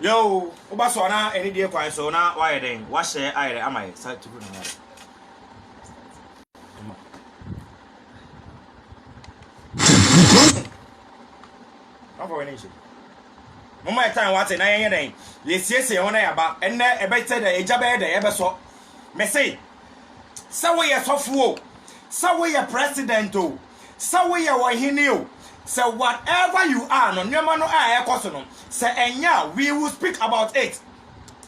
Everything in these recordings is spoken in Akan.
Yoo, woba so a na ɛne deɛ kwan so na woayɛ dɛn? Woahyɛ ayɛrɛ ama yɛ sa tugu na ayɛrɛ. Afa w'ani nhyɛ. Mama yɛ tan wate na yɛnyɛ dɛn? Yɛsiesie ho na yɛaba. Ɛnnɛ ɛbɛkyɛ dɛ egya bɛyɛ dɛ ɛbɛsɔ. Mese sɛ woyɛ sɔfo o, sɛ woyɛ president o, sɛ woyɛ ɔhene o, sɛ whatever you are no, nneɛma no a ɛkɔ so no, sɛ ɛnyɛ a, we will speak about it.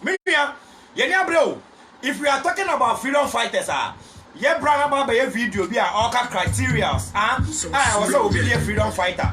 Me nua, yɛn ni abere o. If we are talking about freedom fighters a, yɛbra na ba bɛyɛ video bi a ɔka criterias a ɛwɔ sɛ obi yɛ freedom fighter.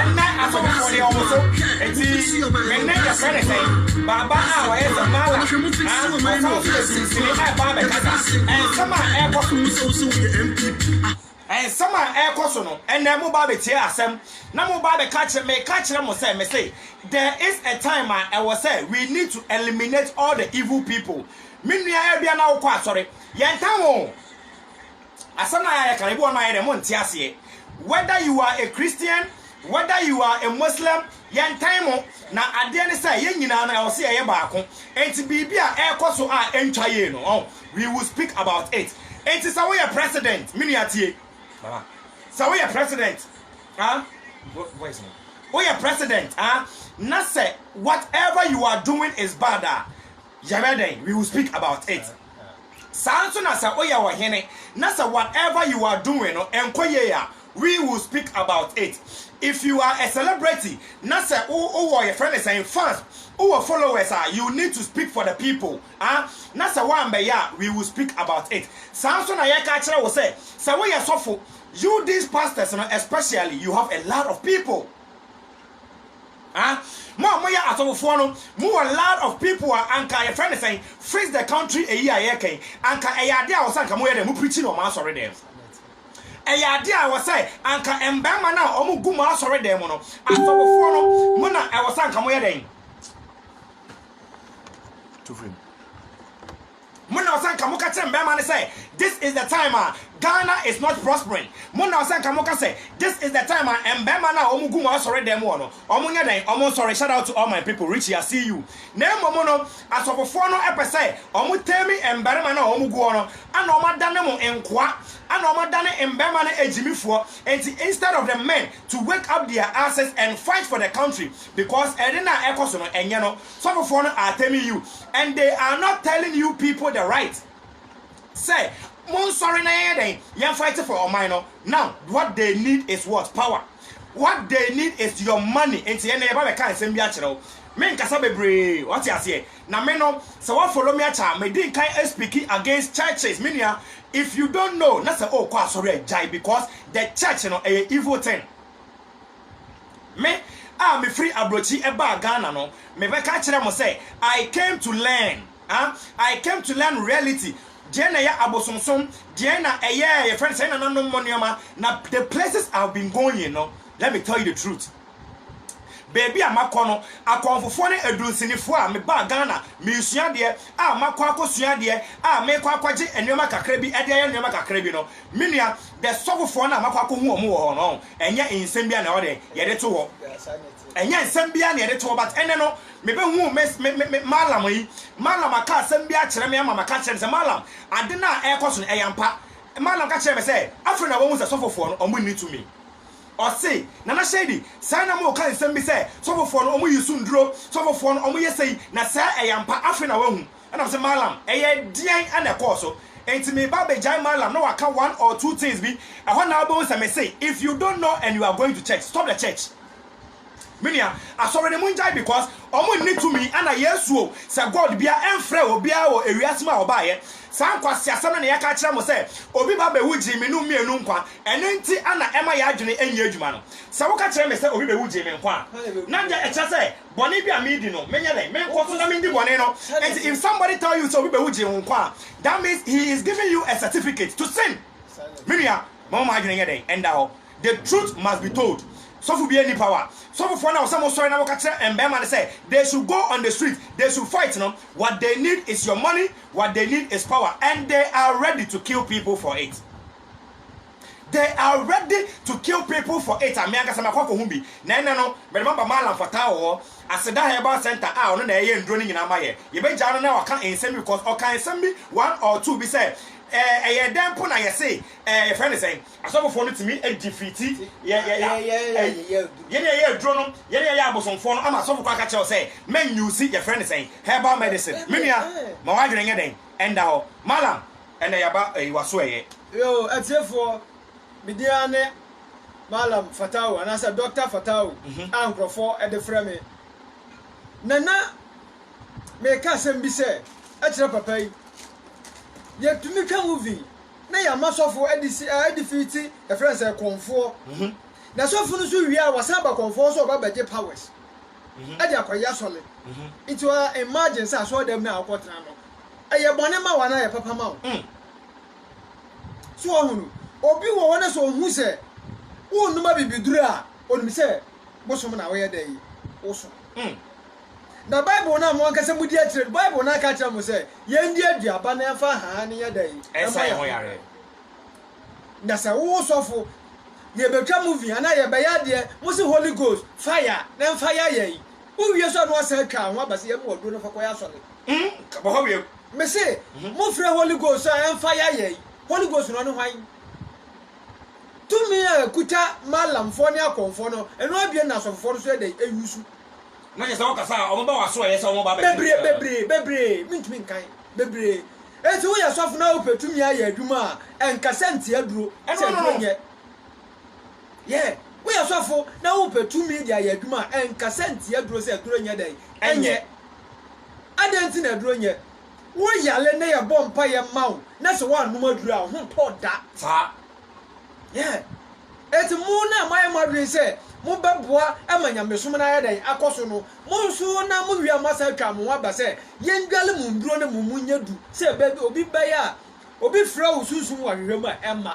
Ɛnnɛ asɔfofoɔ deɛ wɔn so Enti me nne yɛfrɛ no sɛn? Baaba a ɔyɛ sɛ Mala haa Ɔsan so yɛ sinsini a ɛba abɛkasa Nsɛm a ɛrekɔ so Nsɛm a ɛrekɔ so no Ɛnnɛ moba abɛtie asɛm Na moba abɛka akyerɛ Meka akyerɛ mo sɛ mese There is a time a ɛwɔ sɛ We need to eliminate all the evil people Me nua Abia na wokɔ asɔre Yɛntan wo o Asɛm no a yɛayɛ kan, ebi wɔ hɔ no ayɛ dɛ monte aseɛ. Whether you are a Christian, whether you are a Muslim, yɛntan mo. Na adeɛ ne sɛ, yɛn nyinaa no, ɛwɔ sɛ yɛyɛ baako. Enti biribi a ɛrekɔ so a ɛntwa yie no, ɔho, we will speak about it. Enti sɛ woyɛ President, me nua tie, mama, sɛ woyɛ President, ah, voice no, woyɛ President, ah, na sɛ whatever you are doing is bad a, yɛbɛyɛ dɛn? We will speak about it. Saa ara nso na sɛ oyɛ ɔhene na sɛ whatever you are doing no nkɔ yie a, we will speak about it. If you are a celebrity na sɛ wo wɔ yɛfrɛ no sɛn fans, wo wɔ followers a, you need to speak for the people ah, na sɛ woammɛyɛ a, we will speak about it. Saa ara nso na yɛka akyerɛ wo sɛ, sɛ woyɛ sɔfo, you these pastors no especially, you have a lot of people. Ah, mo a moyɛ asɔfofoɔ no, mowɔ lot of people a anka yɛfrɛ no sɛn, fix the country eyi a yɛreka yi, anka ɛyɛ adeɛ a ɛwɔ sɛ anka moyɛ dɛn, mo preachi no wɔ mo asɔredɛm. Ɛyɛ adeɛ a ɛwɔ sɛ anka mmarima no a wɔgu mo asɔredɛm mu no, asɔfofoɔ no, mo na ɛwɔ sɛ anka moyɛ dɛn. Mo na ɔsɛ nka moka kyerɛ mmarima no sɛ this is the time a Ghana is not prospering. Mo na ɔsɛ nka moka sɛ this is the time a mmarima no a wɔgu mo asɔre dɛm hɔ no wɔn nyɛ dɛn wɔn nsɔre shout out to all my people Richie I see you na mmom no asɔfofoɔ no pɛ sɛ wɔn tame mmarima no a wɔn gu hɔ no ana wɔn adane mo nkoa ana wɔn adane mmarima no agyimifoɔ nti instead of the men to wake up their asses and fight for the country because ɛde no a ɛkɔ so no ɛnyɛ no sɔfofoɔ no are telling you and they are not telling you people the right sɛ mo nsɔre na yɛnyɛ dɛn yɛn fight for ɔman no now what they need is what power what they need is your money nti yɛn na yɛba bɛka nsɛm bi akyerɛ wo me nkasa bebree wate aseɛ na me no sɛ wa follow me akyɛ a me di nkan speaking against churches me nua if you don't know na sɛ o kɔ asɔre a gyae because the church no ɛyɛ evil thing. Me a mefiri aburokyi baa Ghana no, mebɛka akyerɛ mo sɛ I came to learn ah, I came to learn reality, deɛn na ɛyɛ abosomsom, deɛn na ɛyɛ yɛfrɛ no sɛ yɛn nananom mo nneɛma, na the places I have been going no, let me tell you the truth, baabi a makɔ no, akɔmfofoɔ ne adunsinifoɔ a mebaa Ghana meresua adeɛ a makɔ akɔsua adeɛ a merekɔ akɔgye nneɛma kakra bi de ayɛ nneɛma kakra bi no, me nua, the sɔfofoɔ no a makɔ akɔhu wɔn wɔ hɔ no, ɛnyɛ nsɛm biara na ɔdɛ yɛde to hɔ ɛnyɛ nsɛm biara na yɛde to hɔ but ɛnɛ no mebɛhu me me me malam yi malam aka asɛm bi akyerɛ me ama maka kyerɛ no sɛ malam ade no a ɛrekɔ so no ɛyɛ ampa malam ka kyerɛ me sɛ afei na wɔhu sɛ sɔfofoɔ no ɔmo nni tumi ɔse nana shady saa na mo ka nsɛm bi sɛ sɔfofoɔ no ɔmo yi so nduro sɔfofoɔ no ɔmo yɛ sɛyi na saa ɛyɛ ampa afei na wɔahu Ɛna ɔse Mallam ɛyɛ deɛn ɛna ɛkɔɔ so nti meba abɛgyae Mallam na waka one or two things bi ɛhɔ na wobɛhu sɛ mese if you don't know and you are going to church stop the church me nua asɔre no mongyae because ɔmo nni tumi ɛna Yesu o sɛ God bia ɛmfrɛ obiara wɔ ewiase mu a ɔbaeɛ saa nkwaseasɛm no na yɛka akyerɛ mo sɛ obi ba bɛwu gyee me nom mmienu nkwa ɛno nti ɛna ɛma yɛn adwene ɛnyɛ adwuma no sɛ woka kyerɛ me sɛ obi bɛwu gyee me nkwa a na deɛ ɛkyerɛ sɛ Bɔne bi a medi no menyɛ dɛn menkɔ so na mendi bɔne no nti if somebody tell you sɛ obi bɛwu gyee wo nkwa a that means he is giving you a certificate to sin me nua momma mo adwene nyɛ dɛn ɛnda hɔ the truth must be told sɔfo bi ɛni power sɔfofoɔ no a wɔsɛ mo sɔre na wɔka kyerɛ mbɛɛma no sɛ they should go on the street they should fight no what they need is your money what they need is power and they are ready to kill people for it. They are ready to kill people for it, a me ankasa makɔ akɔhu bi, na ɛnnɛ no mede mo aba Maalam for Tawo hɔ, Aseda Herbal Centre a ɔno na ɛyɛ nnuro no nyinaa ma yɛ. Yɛbɛgyaa no na waka nsɛm bi because ɔkaa nsɛm bi one or two bi sɛ ɛɛ ɛyɛ dɛn mpo na yɛse ɛɛ yɛfrɛ no sɛn? Asɔfofoɔ no tumi gye firi ti yɛ yɛ yɛ yɛn na yɛyɛ aduro no, yɛn na yɛyɛ abosomfoɔ no ama asɔfo kɔ aka kyerɛ wo sɛ mɛ use yɛfrɛ no sɛn? Herbal medicine. Me nua, ma w'adwene nyɛ dɛn? Ɛnda hɔ. Maalam. Ɛnna yaba ɛyi wa so ɛyɛ. Yoo atiefoɔ, me din ara ne Mallam Fatawu anaasɛ Dɔkta Fatawu a nkurɔfoɔ de frɛ me. Na na mereka asɛm bi sɛ kyerɛ papa yi, yɛtumi twa movie na yɛama sɔfo de si a ɛde firi ti yɛfrɛ no sɛ kɔnfoɔ. Na sɔfo no nso wie a wasan aba kɔnfoɔ hɔ sɛ ɔba bɛgye powers de akɔyɛ asɔre. Nti wa imagine sɛ asɔredam no a wokɔtena no ɛyɛ bɔne ma wo anaa ɛyɛ papa ma wo. So ɔho no? Obi wɔ hɔ na sɛ ɔhu sɛ wonnom abibiduru a, ɔnim sɛ bosom na woyɛ dɛn? Wosom. Na Bible no a mo ankasa modi akyire no, Bible no aka akyerɛ mo sɛ yɛndi aduaba na yɛmfa haa no nyɛ dɛn? Ɛnsa yɛn ho yareɛ. Na sɛ wo sɔfo, yɛbɛtwa movie anaa yɛbɛyɛ adeɛ, mo se Holy Ghost, fire, na ɛmfa ya yɛn. Wowie so a na wasan atwa anho aba sɛ yɛmmoa ɔduro no mfa kɔyɛ asɔre. Nka bɔ hɔ wiem. Me se, mo frɛ Holy Ghost a ɛmfa yɛ ayɛ yi. Holy Ghost no ɔne hwan? Tumi a ɛkuta Mallamfoɔ ne Akonfoɔ no, ɛno abien na Asɔfofoɔ no nso yɛ dɛn? Ɛyi so. Na kyerɛ sɛ wo kasa a, wɔn ba w'aso a ɛyɛ sɛ wɔn ba abɛkyere Bebree, biara. bebree, bebree, mentumi nkan. Bebree. Enti woyɛ sɔfo na wopɛ tumi ayɛ adwuma a, ɛnka sɛ nte aduro, sɛ aduro nyɛ. Yeah, woyɛ sɔfo na wopɛ tumi de ayɛ adwuma a, ɛnkasa ntia aduro sɛ aduro nyɛ dɛn? Ɛnyɛ. Adɛn nti na aduro nyɛ? Woyare na yɛbɔ mpaeɛ ma wo na sɛ woannom aduro a, wo ho ntɔ da. Saa. Yeah. Enti mo no a moayɛ mo adwene sɛ mobɛboa ma nyamesom no ayɛ dɛn? Akɔ so no, mo nso na mowie a moasan atwa mo ho aba sɛ yɛndware mo nnuro no mmom nyɛ du sɛ baabi obi bɛyɛ a obi frɛ wo sunsum wɔ ahwehwɛ mu a, ɛmma.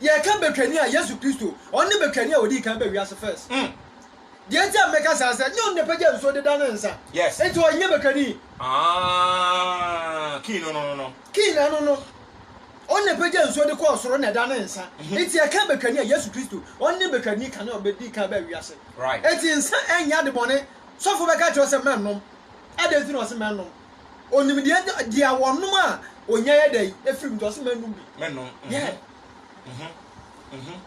Yɛka Betwani a, Yesu Kristo. Ɔno ne Betwani a ɔdii kan baa wiase first. Mm. Deɛ nti a meka saa sɛ, nyɛ ɔno na ɛpagya nsuo de dane nsa. Yes. Nti ɔnyɛ Betwani. Ah, kii no no no no. Kii no no no. Ɔno na ɛpagya nsuo de kɔɔ soro na ɛdane nsa. Mm-hmm. Nti yɛka Betwani a, Yesu Kristo. Ɔno ne Betwani kane a ɔbɛdii kan baa wiase. Right. Nti nsa ɛnyɛ adebɔne. Sɔfo bɛka kyerɛ wo sɛ mɛnnom. Adɛn nti na ɔse mɛnnom? Onim deɛ nya deɛ wɔnom a ɔnya yɛ dɛn ɛfiri mu nti ɔse mɛnom bi. Mɛnom. Mm-hmm. Yeah. Mm-hmm. Mm-hmm.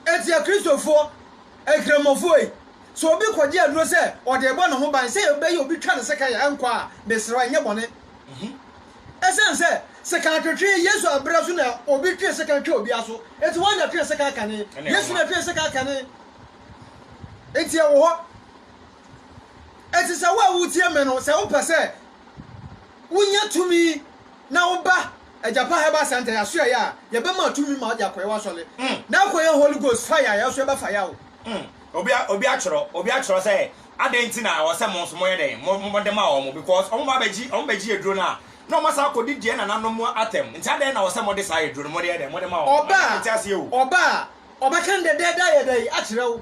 Ɛti akristofoɔ akramɔfoɔ yi sɛ obi kɔgye aduro sɛ ɔde ɛbɔ ne ho ban sɛ ɛbɛyɛ obi twa ne sekan a ɛnkɔ a mesrɛ wo ɛnyɛ bɔne. Mm-hmm. Ɛsiane sɛ sekan twetwe Yesu abrɛ so na obi twe sekan twa obi aso. Ɛti wɔn na twe sekan kane. Yesu na twe sekan kane. Ɛti ɛwɔ hɔ. Enti sɛ wo a wutie me no, sɛ wopɛ sɛ wunya tumi na woba Agyapa Herbal Center yɛasoɛeɛ a, yɛbɛma tumi ma wode akɔyɛ w'asɔre na akɔyɛ Holy Ghost fire a yɛso ɛbɛfa yɛ wo. Obi atwerɛ obi atwerɛ sɛ adɛn nti na ɛwɔ sɛ mo nso moyɛ dɛn mode ma wɔn because wɔn ba bɛgye wɔn bɛgye aduro no a na wɔn asan akɔdi deɛ nananom atɛm nti adɛn na ɛwɔ sɛ mode saa aduro no mode yɛ dɛn mode ma wɔn ɔba a ɔba a ɔbɛka dɛdɛɛdɛ ayɛ dɛn akyerɛ wo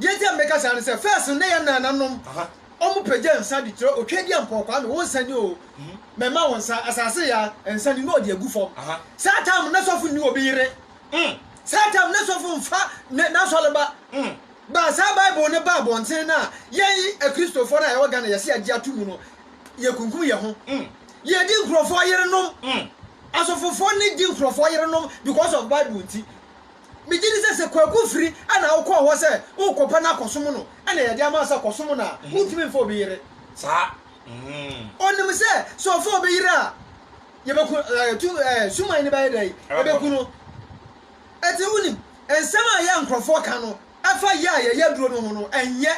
Deɛ nti a meka saa ne sɛ, first no na yɛn naananom wɔn pagya nsa de kyerɛ Otweaduampɔn Kwame, wo nsa ni oo, mɛma wo nsa, asase ya, nsa ni, na ɔde agu fam. Saa time no na sɔfo nni obi yere, saa time na sɔfo mfa n'asɔreba. But saa Bible no baa abɔnten no a, yɛn Akristofoɔ no a yɛwɔ Ghana yɛse yɛagye ato mu no, yɛkunkum yɛn ho. Yɛdi nkurɔfoɔ yerenom, asɔfofoɔ no di nkurɔfoɔ yerenom because of Bible nti. Megye di sɛ sɛ Kwaku firi a na wokɔɔ hɔ sɛ worekɔpɛ no akɔsom no na yɛde ama sɛ kɔsom no a, wontumi mfa obi yere. Saa. Ɔnim sɛ sɛ ɔfa obi yere a, yɛbɛku tu suman no bɛyɛ dɛn? Ɛbɛku no. Ɛte wonim, nsɛm a yɛ nkurɔfoɔ ka no ɛfa yɛ a yɛyɛ aduro no ho no, ɛnyɛ.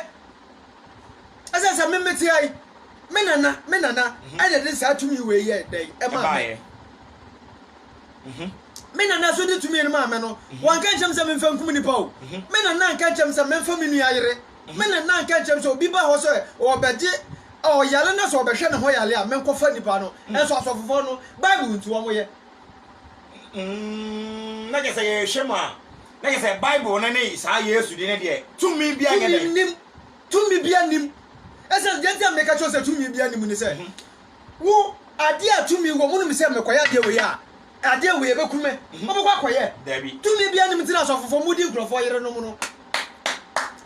Ɛsɛ sɛ me mete ha yi, me nana, me nana ɛna ɛde saa tumi wei yɛ dɛn ɛmaa me. Mhm. Me nana nso de tumi no maa me no, mhm. wɔnka nkyɛn m sɛ memfa nkum nnipa o. Mhm. Me nana nka nkyɛn m sɛ memfa me nua yere. Me nana nka nkyɛn m sɛ obi ba hɔ sɛ ɔbɛgye ɔyare na sɛ ɔbɛhwɛ ne ho yare a menkɔfa nnipa no. Ɛnso asɔfofoɔ no, Bible nti wɔn yɛ. Mm, na kyɛ sɛ yɛhwɛ mu a, na kyɛ sɛ Bible no ne saa Yesu de ne deɛ tumi bi anyɛ dɛ. Tumi nim, tumi bi anim. Ɛsɛ deɛ nti a meka kyerɛ sɛ tumi bi anim ne sɛ, Wo adeɛ a tumi wɔ mu nim sɛ mekɔyɛ adeɛ wei a, adeɛ wei ɛbɛku me. Wobɛkɔ akɔyɛ. Dabi. Tumi biara nim nti na sɔfofoɔ mudi nkurɔfoɔ yerenom no.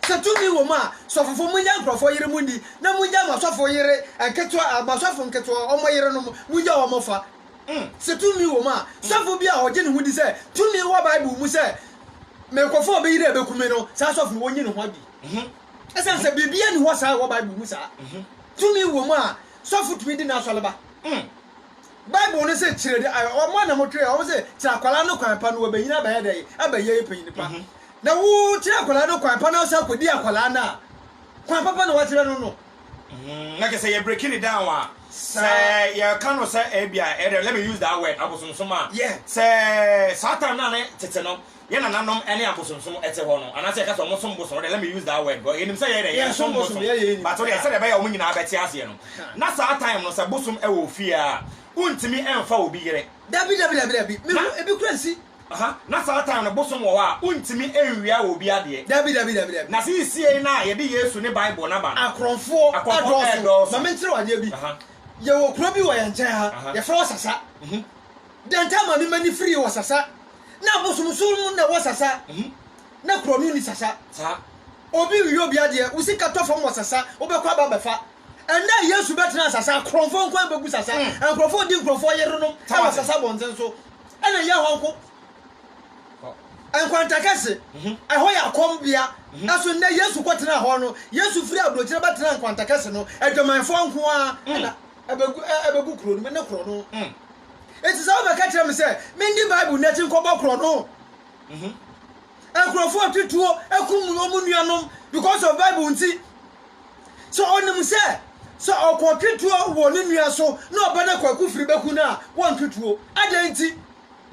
Sɛ tumi wɔ mu a, sɔfofoɔ mongya nkurɔfoɔ yere mu nni na mongya m'asɔfo yere nketewa, m'asɔfo nketewa, wɔn yerenom, mongya wɔn fa. Sɛ tumi wɔ mu a, sɔfo bi a ɔgye ne ho di sɛ tumi wɔ Bible mu sɛ mekɔfa obi yere a ɛbɛku me no, saa sɔfo no, wɔnyi ne ho adi. Esiane sɛ biribiara nni hɔ saa a ɛwɔ Bible mu saa tumi wom a sɔfo tumi di n'asɔre ba. Bible no se kyerɛ de ayɛ ɔmo na mo twerɛ ɔmo se kyerɛ akwadaa no kwan pa no wɔbɛnyini abɛyɛ dɛ abɛyɛ panyin pa na wo kyerɛ akwadaa no kwan pa na ɔsan kɔdi akwadaa no a kwan papa na wakyerɛ no no. Mm, na kyerɛ sɛ yɛ breaking it down a sɛ yɛka no sɛ ebi a ɛdɛ let me use that word abosomsom a sɛ saa time no a ne tete no yɛn nananom ne abosonsom te hɔ no, anaasɛ yɛka sɛ wɔsom bosom no deɛ, let me use that word, yɛnim sɛ yɛn deɛ yɛnsom bosom, but wo deɛ sɛdeɛ ɛbɛyɛ a wɔn nyinaa bɛte aseɛ no, na saa time no sɛ bosom wɔ ofie a, wontumi mfa obi yere. Dabi, dabi, dabi, dabi, me hu ebi kura nsi. Aha, na saa time no bosom wɔ hɔ a, wontumi nwia obi adeɛ. Dabi, dabi, dabi, dabi. Na seisiei no a yɛde Yesu ne Bible no aba no, akorɔmfoɔ ɛdɔɔso. Ma menkyerɛ wo adeɛ bi, yɛwɔ kuro bi wɔ yɛn nkyɛn ha, yɛfrɛ hɔ Sasa. Dɛ nkyɛ ma me mani firi wɔ sasa na abosomsom mu na wɔ sasa na kurɔno ni sasa saa obi nwie obi adeɛ wo sika tɔ fam wɔ sasa wobɛkɔ aba bɛfa ɛnɛ a Yesu bɛtena sasa akorɔmfoɔ nkoa bɛgu sasa nkorɔfoɔ odi nkorɔfoɔ yerenom ɛwɔ sasa bɔnten so ɛna yɛ hɔ nko nkwanta kɛse ɛhɔ yɛ akɔm bea ɛso nnɛ Yesu kɔtena hɔ no Yesu firi aburokyerɛ bɛtena nkwanta kɛse no adwamanfoɔ nkoa ɛna ɛbɛgu ɛ ɛbɛgu kuro no mu ne korɔ no. Mm. Eti sɛ wobɛka kyerɛ me sɛ mendi Bible n'akyi nkɔbɔ korɔ no. Mm-hmm. Nkurɔfoɔ atutuo akum wɔn nuanom because of Bible nti. Sɛ ɔnim sɛ sɛ ɔkɔ twetuo wɔ ne nua so na ɔba no kwaku firi bɛku no a wɔntwetuo. Adɛn nti?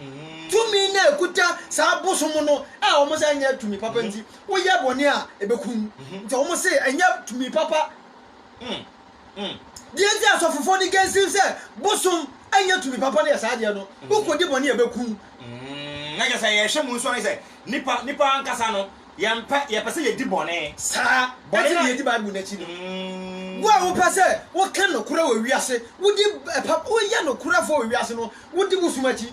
Mm-hmm. Tumi na ɛkuta saa bosom no a wɔn sɛ ɛnyɛ tumi papa mm-hmm. nti woyɛ bɔne a ɛbɛkum. Nti wɔn se ɛnyɛ tumi papa. Mm. Mm. Deɛ nti asɔfofoɔ no gansiw sɛ bosom nyɛ tumi papa no yɛ saa adeɛ no, mm. wokɔdi bɔne a ɛbɛku wo. Mm. Na kyɛ sɛ yɛhwɛ mu nso ne sɛ nipa nipa ankasa no yɛmpɛ yɛpɛ sɛ yɛdi bɔne saa bɔne na yɛdi bible no akyi no mm. wo a wopɛ sɛ woka nokorɛ wɔ wiase wodi ɛpa woyɛ nokorɛfoɔ wɔ wiase no wodi bosom akyi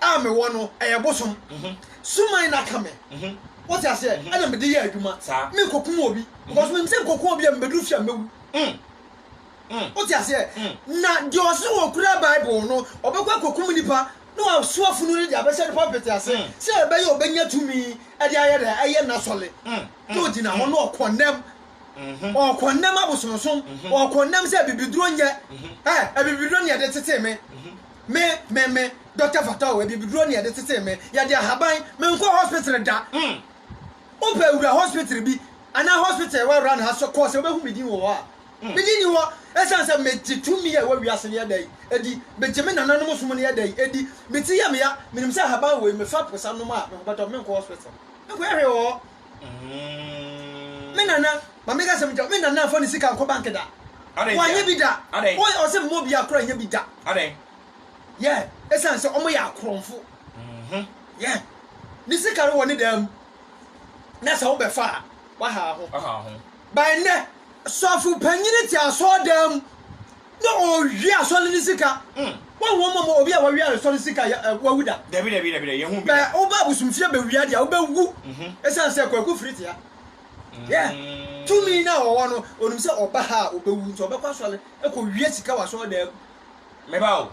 a mewɔ no ɛyɛ bosom suman na aka me wote aseɛ ɛna mede yɛ adwuma me nkɔkum obi because menim sɛ nkɔku obi a mebɛduru fie a mɛwu wote aseɛ na deɛ ɔse wɔkura bible no ɔbɛkɔ akɔkum nipa na waso afunu no de abɛhyɛ no pɔpete ase sɛ ɛbɛyɛ ɔbɛnya tumi ɛde ayɛ dɛ ɛyɛ nasɔle na ɔgyina hɔ na ɔkɔnnɛm ɔkɔnnɛm abosomsom ɔkɔnnɛm sɛ abibiduro nyɛ abibiduro ne ɛde tetee me Me me me doctor fata o abibiduro ne yɛde tetee me yɛde ahaban menkɔ hospital da wopɛ wura hospital bi anaa hospital ɛwɔ run ha so kɔ sɛ wobɛhu me din wɔ hɔ a me din ni hɔ ɛsiane sɛ megye tumi a ɛwɔ wiase ne yɛda yi ɛdi megye me nananom som ne yɛda yi ɛdi me ti yɛ meya menim sɛ ahaban wɔ yi mefa posa nom a mehobɛtɔ menkɔ hospital ɛnkɔyɛ hwee wɔ hɔ Mm. Me nana, ma me ka sɛm kyerɛ, me nana fa ne sika nkɔ bank da. Wɔanyɛ bi da. Wɔn ɔsɛ mma obi akoro anyɛ bi da. Yɛ, ɛsan sɛ wɔn yɛ akorɔmfo. Mm-hmm. Yɛ, ne sika no wɔ ne dan mu. Na sɛ wobɛfa a, waha ho. Ba nnɛ, sɔfo panyin te asɔɔdan mu. Na ɔwia asɔre ne sika. Wɔn wɔn mɔmɔ obi a wawia asɔre sika yɛ ɛ wawu da. Dabi dabi dabi dabi yɛ hu bi da. Bɛ woba abosomfie bɛ wia deɛ wobɛ wu ɛsan sɛ kwaku firi tea yɛ tumi na ɔwɔ no onim sɛ ɔba ha a ɔbɛ wu nti ɔbɛkɔ asɔre ɛkɔ wia sika wɔ asɔre dan mu. Me ba o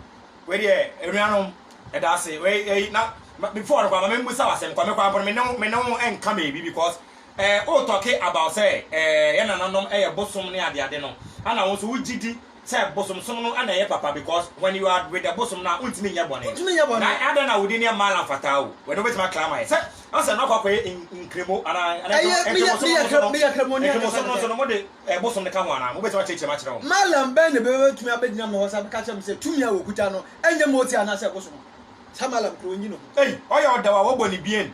wei deɛ anuanom ɛda ase wei ɛyi na before no kora ma me mbusa wo asɛm kɔ me kɔ ampo no me ne wo me ne wo ɛnka baabi because Eh wo talking about sɛ eh yɛ nananom yɛ bosom ne ade ade no ɛna wo nso wo gye di sɛ bosomsom no ɛna ɛyɛ papa because when you are with the bosom no a wontumi nyɛ bɔne na adɛn na wode nneɛma mmaa la mfataa o wɛde wobɛtumi akla ama yɛ sɛ asɛ no akɔ akɔyɛ nkremo anaa nkremosomno nso no mode bosom no ka ho anaa mobɛtumi akyerɛkyerɛ m akyerɛ wɔn malam bɛn na bɛbɛtumi abɛgyina me hɔ sɛ bɛka kyerɛ me sɛ tumi a wɔkuta no ɛnyɛ moti anaasɛ bosom saa malam korɔ ɔnyi ne ho ei ɔyɛ ɔdaw a wɔbɔ ne bien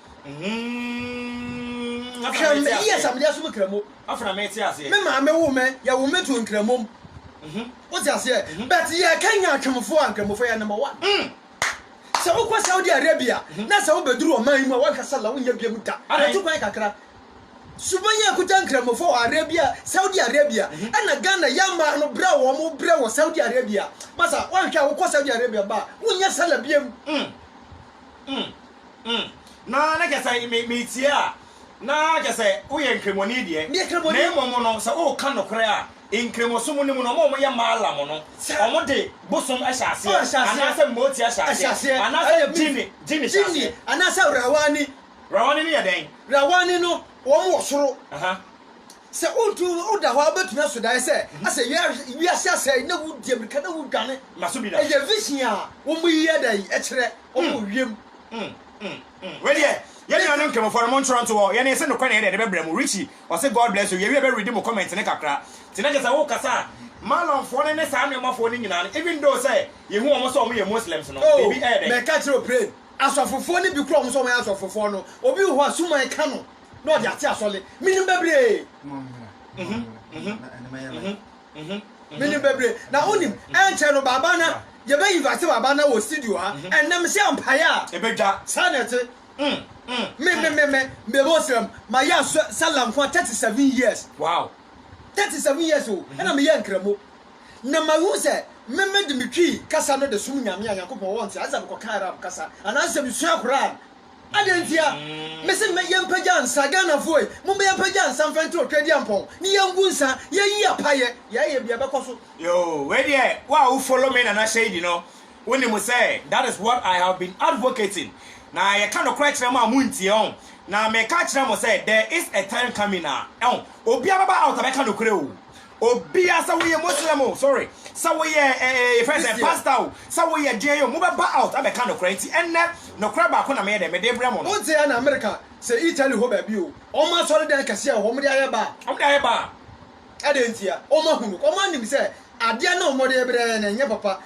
Hwɛ me years a mede asom Nkramo. Me maame woo me, yɛwoo me too Nkramom. Wote aseɛ? But yɛkanyan Atwemfoɔ a, Nkramofo yɛ number one. Sɛ wokɔ Saudi Arabia na sɛ wobɛduru ɔman yi mu a, woanhwɛ sala wonyɛ biam da. Yɛtu kwan kakra. Suban yi akuta Nkramofo wɔ Arabia, Saudi Arabia, ɛna Ghana yɛn mmaa no brɛ a wɔn brɛ wɔ Saudi Arabia. Masa, woanhwɛ a wokɔ Saudi Arabia ba a, wonyɛ sala biam. Mm, na na kyɛ sɛ me, metie a, na kyɛ sɛ woyɛ Nkramoani deɛ. Meyɛ Nkramoani. Na mmom no, sɛ woreka nokorɛ a, Nkramosom no mu no, wɔn a wɔyɛ Maalam no, Saa. wɔde bosom hyɛ Wɔn aseɛ, ahyɛ aseɛ. anaasɛ Moti hyɛ Ɛhyɛ aseɛ, aseɛ. anaasɛ Ɛyɛ Mif. Jini, Jini hyɛ Jinni, aseɛ. anaasɛ Rawani. Rawani no yɛ dɛn? Rawani no, wɔn wɔ soro. Aha. Sɛ wontu, woda hɔ a, wobɛtumi aso daeɛ sɛ, asɛ wia, wiase asɛe, na wodi ammirika na wodwane. Ma so bi da. Ɛyɛ vision a wɔyi yɛ dɛn kyerɛ. ɔwɔ wiem. Wɛdeɛ yɛn nuanom nkramofo no mo ntwerɛ nto hɔ yɛne sɛ nokorɛ na yɛde ɛde bɛbrɛ mo Richie ɔse God bless you yɛwie bɛ read mo comment no kakra nti na kyɛsɛ wo kasa a Malon foɔ no ne saa nnoɔma foɔ no nyinaa no even though sɛ yɛhu wɔn sɛ wɔn yɛ Muslims no oh biribi ɛyɛ dɛn mɛka kyerɛ oprɛn asɔfofoɔ no bi kora wɔn sɛ wɔn yɛ asɔfofoɔ no obi wɔ hɔ a suman ka no na ɔde ate asɔle menim bɛbree. Menim bebree. Na wonim, ɛnkyɛ no Baba na yɛbɛ invite Baba na wɔ studio ha. Ɛnnɛ me hyɛ mpaeɛ a ɛbɛdwa. Saa na ɛte. Me me me me me bɔ sram ma yɛ asɔ sala nko a 37 years. Wow. 37 years o ɛna me yɛ nkramo. Na ma hu sɛ me me de me twi kasa no de som Nyame a Nyankopɔn wɔ nti ayɛ sɛ me kɔ ka Arab kasa anaa sɛ me sua Quran. Adɛn ntia? Mese me yɛmpagya nsa, Ghanafoɔ, momma yɛmpagya nsa mfa nto Otwaadiampɔn ne yɛngu nsa, yɛyi apayɛ, yɛayɛ bi a ɛbɛkɔ so. Yoo wei deɛ wo a wo follow me Nana Shady no wo nim sɛ that is what I have been advocating na yɛka nokorɛ kyerɛ mo a mo ntie ɔho na meka kyerɛ mo sɛ there is a time coming a ɛho obiara bɛba out abɛka nokorɛ oo Obia sɛ woyɛ Muslim o, sorry, sɛ woyɛ ɛɛ yɛfrɛ sɛ pastor o, sɛ woyɛ deɛ yɛ o, mobɛba out abɛka nokorɛ nti ɛnnɛ nokorɛ baako na meyɛ dɛ mede brɛ mo no. Wote ɛna America sɛ Italy hɔ baabi o, wɔn asɔredan kɛseɛ wɔ hɔ, wɔde ayɛ bar. Wɔde ayɛ bar. Ɛdɛn ntia? Wɔahu no, wɔanim sɛ adeɛ no a wɔde brɛ yɛn no ɛnyɛ papa.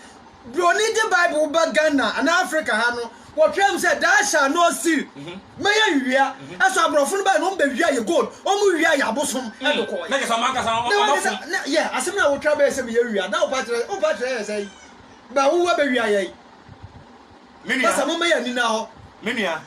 Broni de Bible ba Ghana anaa Africa ha no, wɔtwerɛ mu sɛ Thou shalt not steal. Mhm. Mɛyɛ nwia. Mhm. Ɛso aborɔfo no bɛyɛ no, wɔbɛwia yɛ gold, wɔwia yɛ abosom mm. ɛde kɔɔ yɛ. Na kasa ɔmo ankasa ɔmo fo. Yɛ asɛm na wotwa bɛyɛ sɛ meyɛ wia, na wopa kyerɛ wopa kyerɛ yɛ sɛ yi. Ba wowu abɛwia yɛ yi. Menua. Basa mo mɛyɛ nina hɔ. Menua.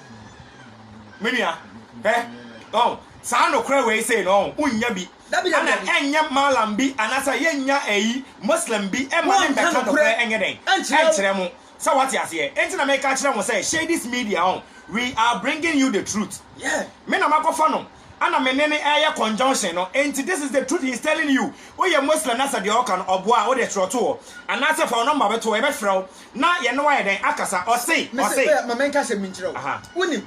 Menua. Hɛ. Ɔn. Saa nokora wei sei no ɔn, wonnya bi. Ana ɛnyɛ Mallam bi anaasɛ yɛnnya eyi Muslim bi mma ne mmɛka nokorɛ nyɛ dɛn? nkyerɛ mo? Sɛ wate aseɛ? Enti na meka kyerɛ mo sɛ Shadis Media ho, we are bringing you the truth. Me na makɔfa no, ana me ne no ɛɛyɛ conjunction no, enti this is the truth he is telling you. Woyɛ Muslim na sɛ deɛ ɔɔka no ɔboa a, wo deɛ twerɛ to hɔ, anaasɛ fa wo number bɛto hɔ, yɛbɛfrɛ wo na yɛne wo ayɛ dɛn? akasa. Ɔse, ɔse. Mese, ma menka asɛm bi nkyerɛ wo. Wonim,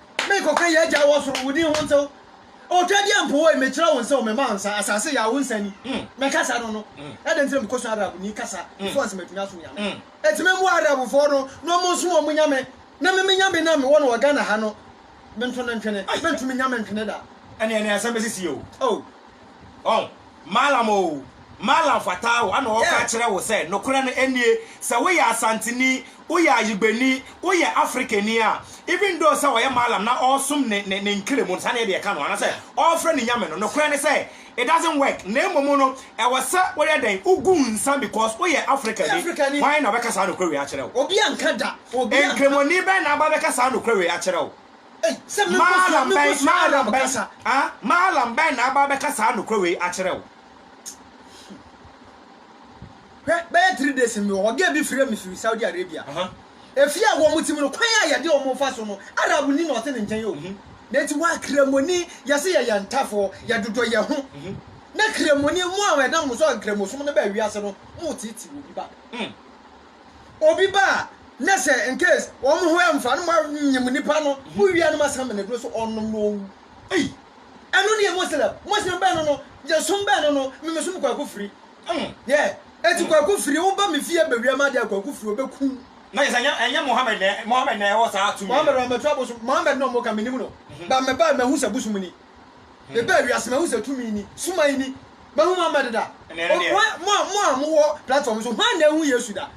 Merekɔka yɛn Agya a ɔwɔ soro, wo din ho ntew. Otwa deɛ mpo woi, mekyerɛ wo nsɛ o, mema wo nsa, asase yɛ a, wo nsa ni. Me kasa no no, ɛdɛn nti na mekɔsua Arabni kasa before sɛ matumi asom Nyame? Enti me mmoa Arabfoɔ no na ɔmo nsom ɔmo Nyame, na me me Nyame no a mewɔ no wɔ Ghana ha no, me nto no ntwene, mentumi nya me ntwene da. Ɛneɛ ɛneɛ asɛm bɛsisi o. Oh. Ɔn, Mallam o, Mallam Fataa o, ana ɔreka akyerɛ wo sɛ nokorɛ no nie, sɛ woyɛ Asanteni, woyɛ Ayigbeni, woyɛ Afrikani a, even though sɛ ɔyɛ Mallam na ɔresom ne ne ne Nkremu no, saa na yɛdeɛ ka no, anaasɛ ɔrefrɛ ne Nyame no, nokorɛ ne sɛ, it doesn't work, na mmom no, ɛwɔ sɛ woyɛ dɛn? Wogu nsa because woyɛ Afrikani. Hwan na ɔbɛka saa nokorɛ wei akyerɛ wo? Nkremoni bɛn na aba abɛka saa nokorɛ wei akyerɛ wo? Maalam bɛn, maalam bɛn, ha? Maalam bɛn na aba abɛka saa nokorɛ wei akyerɛ wo? Hwɛ, bɛyɛ three days mewɔ hɔ, girl bi frɛɛ me firi Saudi Arabia. Efie a wɔn te mu no, kwan a yɛde wɔn fa so no, Arabni na ɔte ne nkyɛn o. Na enti woa Kramoni, yɛse yɛyɛ ntafoɔ, yɛdodɔ yɛn ho. Na Kramoni, mo a ɛnam mo so a Nkramosom no baa wiase no, moreteetee obi ba. Obi ba a na sɛ in case wɔn ho ɛmfa no ma nyim nipa no mo wia no ma san mene duro so ɔnom na ɔwu ei ɛno ne yɛ Muslim Muslim bɛn no no yɛ som bɛn no no me me som kwaku firi mm yɛ eti kwaku firi wo ba me fie bɛ wia ma deɛ kwaku firi ɔbɛ ku na yɛ sɛ ɛnyɛ ɛnyɛ Mohammed na Mohammed na ɛwɔ saa tumi Mohammed ɔmɛtɔ abosom Mohammed na ɔmo ka me nim no ba mɛ ba mɛ hu sɛ bosom ni. Mebaa wiase mahu sɛ tumi ni, suman ni, mahu mo ama deda. Mo a, mo a mowɔ platform so, hwan na ahu Yesu da?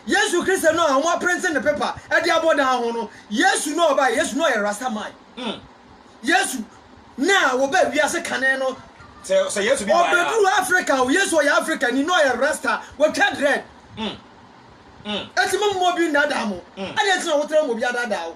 Yesu Kristo no a wɔaprente ne pepa de abɔ dan ho no, Yesu no a ɔbae, Yesu no a ɔyɛ Rasta man, Yesu no a wɔbaa wiase kane no, ɔbɛduruu Africa o, Yesu ɔyɛ Africani na ɔyɛ Rasta, watwa dread. Enti mommma obi nnaadaa mo. Adɛn nti na wotra mu obi adaadaa wo?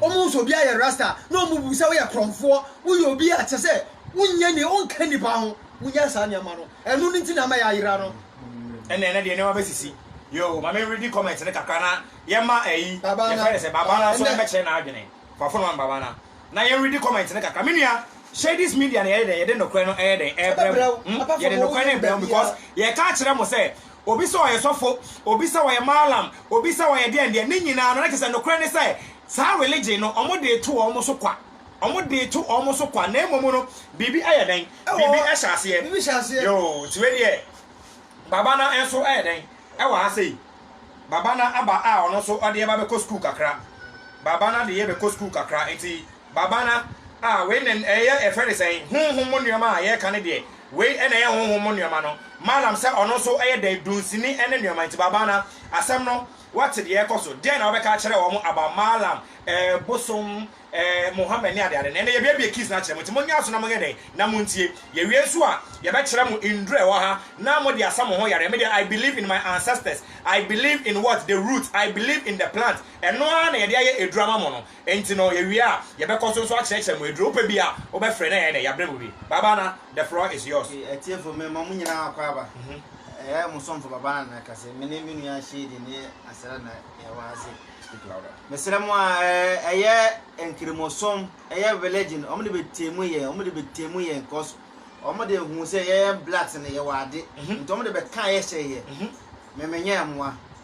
Wɔn nso obiara yɛ rasta na wɔn bu sɛ woyɛ korɔmfoɔ, woyɛ obi a kyerɛ sɛ wonyɛ ni, wonka nnipa ho, munya saa nneɛma no, ɛno no nti na ama yɛayera no. Ɛnna ɛnɛ deɛ nneɛma bɛsisi yoo, ma me readi comment no kakra na yɛma ɛyi, yɛfrɛ no sɛ Babana nso mmɛkyerɛ n'adwene, fa phone ma me Babana na yɛn readi comment no kakra, me nua Shades Media no yɛyɛ dɛn, yɛde nokorɛ no ɛyɛ dɛn, ɛbrɛ mo, yɛde nokorɛ no brɛ mo because yɛka kyerɛ mo sɛ Obi sɛ ɔyɛ sɔfo, obi sɛ ɔyɛ mallam, obi sɛ ɔyɛ deɛn deɛn, ne nyinaa no na kyerɛ sɛ nokorɛ ne sɛ saa religion no wɔn de reto wɔn so kwa, wɔn de reto wɔn so kwa, na mmom no biribi yɛ dɛn, biribi hyɛ aseɛ, biribi hyɛ aseɛ, yoo, nti wei deɛ Babana nso yɛ dɛn wɔ ha sei, Babana aba a ɔno nso ɔde yɛ ba bɛkɔ sukuu kakra, Babana de yɛ bɛkɔ sukuu kakra, nti Babana, ah, wei na ɛyɛ, yɛfrɛ no sɛn? Honhom mu nnoɔma a yɛreka no deɛ, wei na ɛyɛ honhom mu nnoɔma no. Malam sɛ ɔno nso yɛ dɛn? Dunsini ne nnoɔma nti. Babana, asɛm no, woate deɛ ɛrekɔ so, deɛn na wobɛka akyerɛ wɔn about Malam, eh, bosom, eh, Muhammad ne adeade no? Ɛnnɛ yɛabuebue keys no akyerɛ mo, nti monyɛ aso na monyɛ dɛn? Na montie. Yɛwie nso a, yɛbɛkyerɛ mo nnuro a ɛwɔ ha, na mode asa mo ho yareɛ. Me deɛ, I believe in my ancestors, I believe in what? The roots, I believe in the plant. Ɛno ara na yɛde ayɛ aduro ama mo no. Enti no, yɛwie a, yɛbɛkɔ so nso akyerɛkyerɛ mo aduro pɛ bi a wobɛfrɛ na ɛyɛ dɛ, yɛabrɛ mo bi. Babana, the floor is yours. Okay, atiefo, mema mo nyinaa akɔ aba. Ɛyɛ mo somfo Babana na ɛka sɛ, me ne me nua Shady ne Asera na yɛwɔ ha se. Speak louder. Mesrɛ mo a, ɛyɛ Nkramosom, ɛyɛ religion, wɔn de bɛtemu yɛn, wɔn de bɛtemu yɛn because wɔn de huu sɛ yɛyɛ blacks no, yɛwɔ ade, nti wɔn de bɛkaa yɛ hyɛɛ yɛ. Me menyɛɛ mmoa.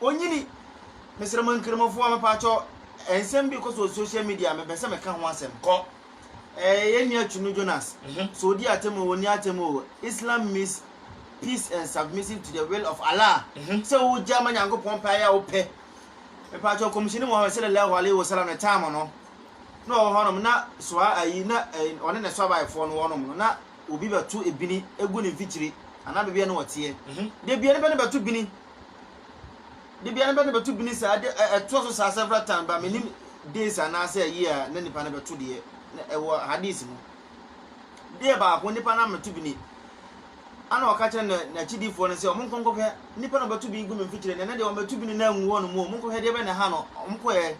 Onyini, Mesrɛ mo Nkramofoɔ mepaakyɛw nsɛm bi kɔ so wɔ social media mepɛ sɛ meka ho asɛm kɔ eh, yɛn nua Chunu Jonas sɛ ɔdi atɛm o ɔni atɛm o Islam means peace and submissive to the will of Allah sɛ wogya ma Nyankopɔn pɛ ayɛ a wopɛ mepaakyɛw Kɔmhyɛni Muhammad sallallahu alaihi wasallam ne time no na ɔwɔ hɔnom na soa ayi na eh, ɔne ne soabaefoɔ no wɔnom no na obi bɛto ebini egu ne mfikyiri anaa baabi a ne wɔteɛ da bia nipa no bɛto bini Da biara na bɛ na bɛto bini saa de ɛ ɛtoa so saa several times ba menim days anaasɛ ɛyɛ a na nipa no bɛto deɛ na ɛwɔ hadis mu deɛ baako nipa no ameto bini ana ɔka kyerɛ na n'akyidifoɔ no sɛ ɔmo nkɔ nkɔhwɛ nipa na ɔbɛto bini gu me mfikyire ne na deɛ ɔmɛto bini na angu hɔ no mu ɔmo nkɔhwɛ deɛ bɛ na ha no ɔmo kɔɛ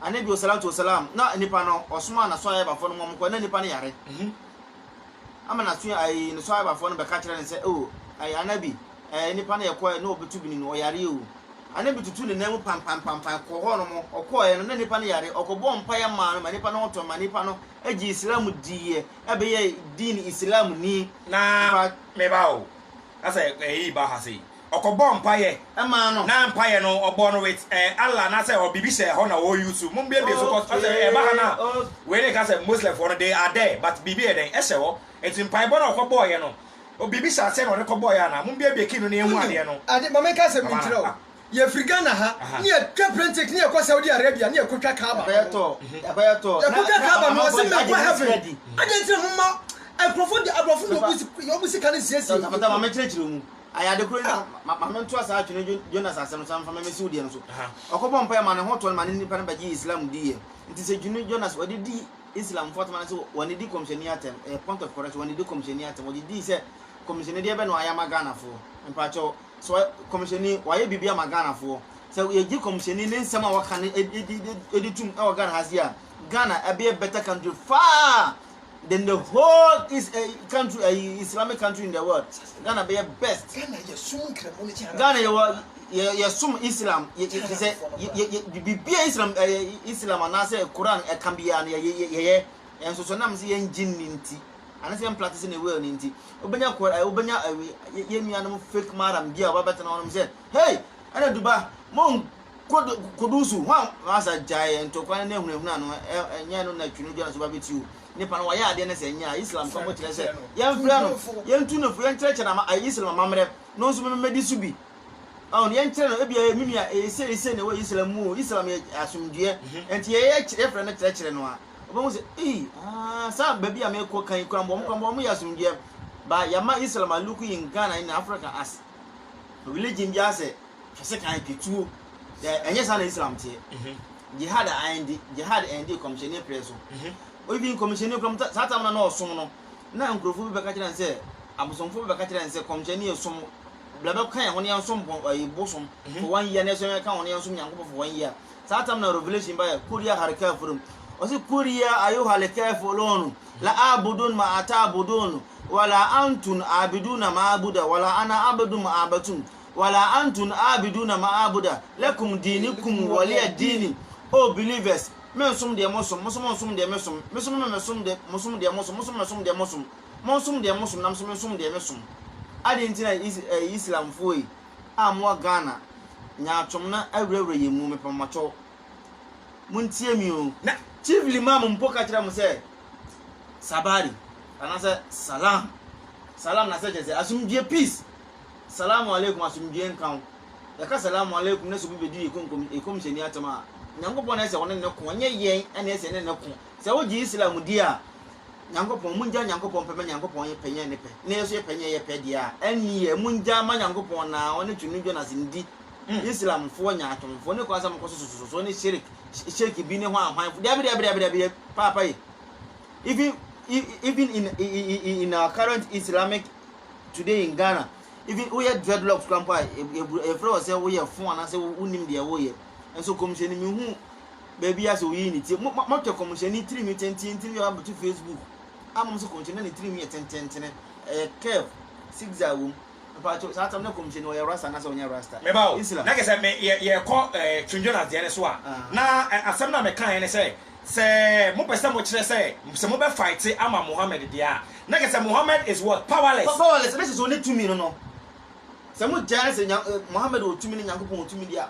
anabi osalatu osalam na nipa no ɔsoma na so ayɛbafoɔ no mu ɔmo kɔ na nipa no yare mhm. ama na so ayi ne so ayɛbafoɔ no bɛka kyerɛ no sɛ o oh, ayi anabi ɛɛ nipa no ɛkɔɛ na ɔbɛtu bini no ɔyareɛ o ɛna bi tutu ne nan mu pampampampam kɔ hɔ nom ɔkɔɛ no na nipa no yare ɔkɔbɔ mpaeɛ maa no ma nipa no ho tɔ ma nipa no gye islam diiɛ ɛbɛyɛ diin islam ni na meba o na sɛ ɛyi ba ha sei ɔkɔbɔ mpaeɛ ɛmaa no na mpaeɛ no ɔbɔ no with ɛɛ eh, Allah na sɛ ɔbibi hyɛ ɛhɔ na ɔreyi so mo mbiebie so kɔ sɛ ɛba ha na wei ne ka sɛ muslimfoɔ no they are there but biribi yɛ dɛn ɛhyɛ hɔ nti mpaebɔ no ɔkɔbɔɔyɛ no Obi bisa sɛ na ɔde kɔ bɔɔyɛ anaa? Mo biabia key no na yɛnhu adeɛ no. Ade ma menka asɛm bi nkyerɛ wo. Yɛfiri Ghana ha ne yɛtwa plane ticket ne yɛkɔ Saudi Arabia ne yɛkɔtwa Kaaba no. Ɛbɛyɛ tɔɔ. Ɛbɛyɛ tɔɔ. Yɛkɔtwa Kaaba no ɔse menkɔ heaven. Adɛn nti na momma nkurɔfoɔ de aborɔfo de wɔn bo sika no nsiesie. Tafata ma menkyerɛkyerɛ wo mu. Ayɛ ade koro ni ma ma mentoa saa Atwene Dwo Jonas asɛm no so na memfa mɛmɛsi wo deɛ no so. Ɔkɔbɔɔ mpaeɛ maa ne ho tɔɔ no ma ne nipa no bɛgyee Islam diiɛ. Nti sɛ Twene Jonas ɔde di Islam fo atsema no sɛ wɔnnedi kɔmhyɛni atsɛm, ɛyɛ point of correction, wɔnnedi kɔmhyɛni atsɛm, wɔgye dii sɛ kɔmhyɛni deɛ bɛ na ɔayɛ ama Ghanafoɔ, mpakyɛw, sɛ kɔmhyɛni ɔayɛ biribi ama Ghanafoɔ, sɛ yɛgye kɔmhyɛni ne nsɛm a ɔka no ɛdi tum ɛwɔ Ghana ha se a, Ghana ɛbɛyɛ a better country far than the whole is, uh, eh, country, uh, Islamic country in the world. Ghana bɛyɛ best. Ghana yɛ sum nkramu ne kyɛ. Ghana yɛ wɔ. yɛ yɛ som islam yɛ yɛ te sɛ yɛ yɛ yɛ biribi a islam ɛyɛ islam anaasɛ koran ɛka biara no yɛ yɛ yɛ yɛ yɛn soso nam sɛ yɛn gye ne nti anaasɛ yɛn practice ne well ne nti wobɛnya kɔ ɛ wobɛnya ɛwe yɛ yɛ nuanom fake maram bi a wɔabɛtena hɔ nom sɛ hey ɛna duba mo nkɔ do kodu so ho a masa gyae ntɔkwa ne ahunahuna no ɛ ɛnyɛ no na twi no dwa no so babɛti o nipa no wɔyɛ adeɛ no sɛ ɛnyɛ a islam kɔmbo kyerɛ sɛ yɛmfrɛ no yɛntu no fo yɛnkyerɛkyerɛ na islam amammerɛ no nso memɛdi so bi Ɔn, deɛ nkyerɛ no, ebia ɛyɛ me nua, ɛyɛ sei ne sei na ɛwɔ Islam mu o, Islam yɛ asomdwoeɛ, ɛnti yɛ yɛ kyerɛ, yɛfrɛ no kyerɛkyerɛ no a, ɔbɛhu sɛ, ei, aah, saa baabi a merekɔ kan yi koraa mpo, wɔn koraa mpo, wɔyɛ asomdwoeɛ. But yɛama Islam a look in Ghana in Africa as religion biara sɛ, hwɛ sekan, twa tuo, sɛ ɛnyɛ saa na Islam teɛ. Jihad a ɛndi, jihad ɛndi kɔmhyɛni prɛ so. Even kɔmhyɛni koraa mu, saa tam na na ɔsom no, na nkurɔfoɔ bi bɛka kyerɛ no sɛ, abosomfoɔ bi bɛka kyerɛ no sɛ, kɔmhyɛni som wo. Bla bɛ kan wɔn yan som bɔ ɛyi bosom fɔ wɔn yia ne sɛ wɔn kan wɔn yan som nyankopɔ fɔ wɔn yia saa tam na revelation ba yɛ koria harikafo nom ɔsi koria ayo harikafo lɔnu la abudun ma ata abudun wala antun abidu na ma abuda wala ana abidu ma abatum wala antun abidu na ma abuda lɛkum dini kum wɔlia dini oh believers men som deɛ mo som mo som nsom deɛ me som me som me som deɛ mo som mo som me som deɛ mo som Monsom deɛ mosom na menso mensom deɛ mesom. Adɛn nti na Is ɛɛ Islamfoɔ yi a mowɔ Ghana, nyaatwom no awurawura yɛn mu? Mepɛ mo makyɛw. Montie me o. Na Chief Limam mpo ka kyerɛɛ mo sɛ, Sabari, anaasɛ Salaam. Salaam no asɛ kyerɛ sɛ, Asomdwoeɛ, peace. Salaamu alaikum, Asomdwoeɛ nka wo. Yɛka Salaamu alaikum na sɛ obi bɛdi yɛn konkom, yɛn Kɔmhyɛni atɛm a, Nyankopɔn na ɛsɛ sɛ ɔne no ko, ɛnyɛ yɛn na ɛsɛ sɛ yɛne no ko. Sɛ wogye Islam di a, Nyankopɔn, mongya Nyankopɔn pɛ ma Nyankopɔn yɛ pɛ nyɛ ne pɛ, na yɛnso yɛ pɛ nyɛ yɛ pɛ deɛ a, ɛnneɛ mongya ma Nyankopɔn na Ɔne Twemnidwoɔ no asɛmdi, Islamfoɔ, nyaatwomfoɔ, ne kwan sɛ mokɔ so sosososoɔ ne shirik, shirk bi ne hwanhwanfoɔ, daabi daabi daabi daabi, paapa yi, even, even in, in our current Islamic today in Ghana, even woyɛ dreadlocks kora mpo a, yɛfrɛ wɔ sɛ woyɛ fo anaasɛ wonim deɛ woyɛ, nso kɔmhyɛni mehu baabi a sɛ oyii ne ti. Mo mo mohwɛ kɔmhyɛni tirinwi tenten tirinwi a waboto Facebook a mo sɛ kɔmhyɛni na ne tirinwi yɛ tententene ɛyɛ curve zigzag wɔ mu. Mpakyɛw saa tam na kɔmhyɛni ɔyɛ rasta anaasɛ ɔnyɛ rasta? Meba o. Islam. Na kɛ sɛ me yɛ yɛkɔ ɛɛ Twin Jonas deɛ no so a, na ɛ asɛm no a mekaeɛ ne sɛ, sɛ mopɛ sɛ mokyerɛ sɛ sɛ mobɛ faete ama Mohammed deɛ a, na kɛ sɛ Mohammed is what? Powerless. Powerless, na kɛ sɛ ɔnni tumi no no. Sɛ mogyae sɛ Nya Mohammed wɔ tumi ne Nyankopɔn wɔ tumi deɛ a,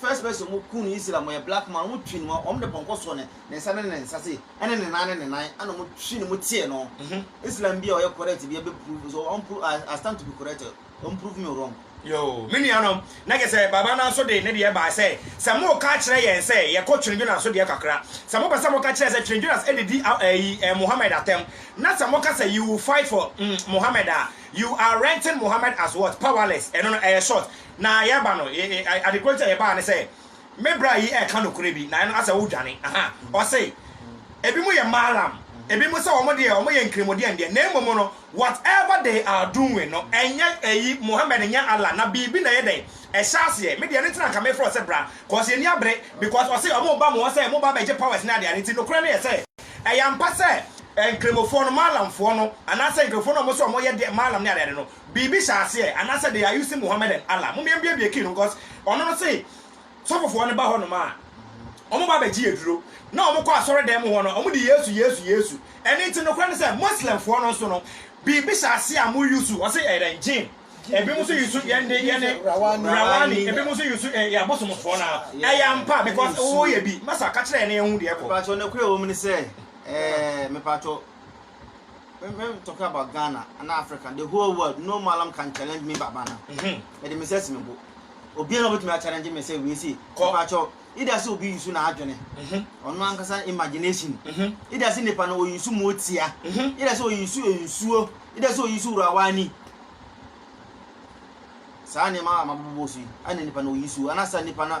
First person ɔmo kuu no Israel ɔmo yɛ black man ɔmo twi no mu ɔmo de pɔnkɔ soɔ ne ne nsa ne ne nsa sei ɛne ne nan ne ne nan ɛna ɔmo twi no mu tie no Islam bi a ɔyɛ correct bi a bɛ prove so ɔn prove I stand to be corrected ɔn prove me wrong. Yoo me nuanom na kyerɛ sɛ Baba no nso de ne deɛ bae sɛ sɛ moreka akyerɛ yɛn sɛ yɛkɔ Twene Jonas so deɛ kakra sɛ mopɛ sɛ moka kyerɛ sɛ Twene Jonas adidi ayi Mohammed atɛm na sɛ moka sɛ you will fight for mm Mohammed a you are renting Mohammed as what powerless ɛno no ɛyɛ short Na yɛba no ee ade koro nti a yɛbaa ne sɛ me bra yi ɛka nokorɛ bi na ɛno asɛ wo dwane ahaa ɔse ebi mo yɛ malam ebi mo sɛ wɔn deɛ wɔn yɛ nkremodeɛ ndeɛ na mmom no what ever they are doing no ɛnyɛ eyi Mohammed nyɛ Allah na biribi na ɛyɛ dɛn ɛhyɛ aseɛ me deɛ ɛno nti na nka me frɛ ɔsɛ bra cause yɛn ni abere because ɔse wɔn ba mo hɔ sɛ mo ba bɛgye powers ne adeade nti nokorɛ no yɛ sɛ ɛyɛ ampa sɛ nkremofoɔ no malamfoɔ no anaasɛ nkremofoɔ no a wɔn sɛ wɔn yɛ deɛ malam ne adeade no Biribi hyɛ aseɛ anaasɛ they are using Muhammad and Allah mom yɛn biabia key no cos ɔno no se sɔfofoɔ no ba hɔ nom a ɔmo ba bɛgye aduro na ɔmo kɔ asɔre dan mu hɔ no ɔmo de Yesu Yesu Yesu ɛno nti nokorɛ no sɛ Muslim foɔ no nso no biribi hyɛ aseɛ a mo use ɔse ɛyɛ dɛn gin ebinom nso use yɛn de yɛne rawani ebinom nso use eh, yɛ abosomfoɔ no a ɛyɛ ampa because woyɛ bi masa ka kyerɛ yɛn na yɛn ho deɛ ɛkɔ. Mepatwɔ nokorɛ wɔ mu ne sɛ ɛɛ mepatwɔ. me me I'm talking about Ghana and Africa the whole world no malam can challenge me baba na mhm. mede me sɛ si me bo obiara na obetumi achallenge me sɛ wei si kɔpakyɛw ida sɛ obi yusu na adwene mhm. ɔno ankasa imagination mhm. ida sɛ nipa na oyusu mu otia ida sɛ oyusu nsuo ida sɛ oyusu wurawa ani saa nneɛma a mabobɔ so yi ɛna nipa na oyusu anasa nipa na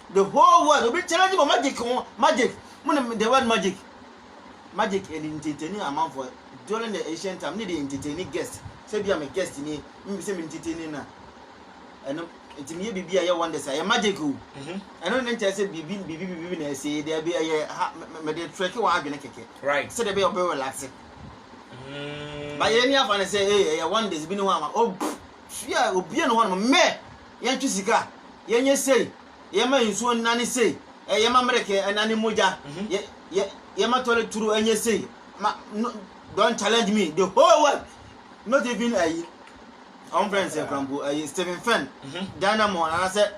The whole world obi challenge mo magic ho magic mo nim the word magic magic ɛni nteteni amanfo during the ancient time ne de nteteni guest sɛ bi a me guest ni mi sɛ me nteteni na ɛno nti mi yɛ bibi a yɛ wonders a yɛ magic o ɛno ne nkyɛn sɛ bibi bibi bibi na ɛsɛ yi dɛ bi ɛyɛ ha me de trek wɔn adwene kɛkɛ Right. sɛ de bi ɔbɛ relax Mm. ba yɛ ni afa ne sɛ ee ɛyɛ wonders bi ne ho ama o pff, hwia obie no hɔ nom mɛ yɛntwe sika, yɛnyɛ sei, yɛmma nsuo nnane sei, yɛmma mmereke nnane mogya, yɛmma toilet turo nyɛ sei, ma no don't challenge me the whole world not even ayi ɔn fɛn sɛ krampo ayi Stephen Fenn mm-hmm. dynamo anasɛ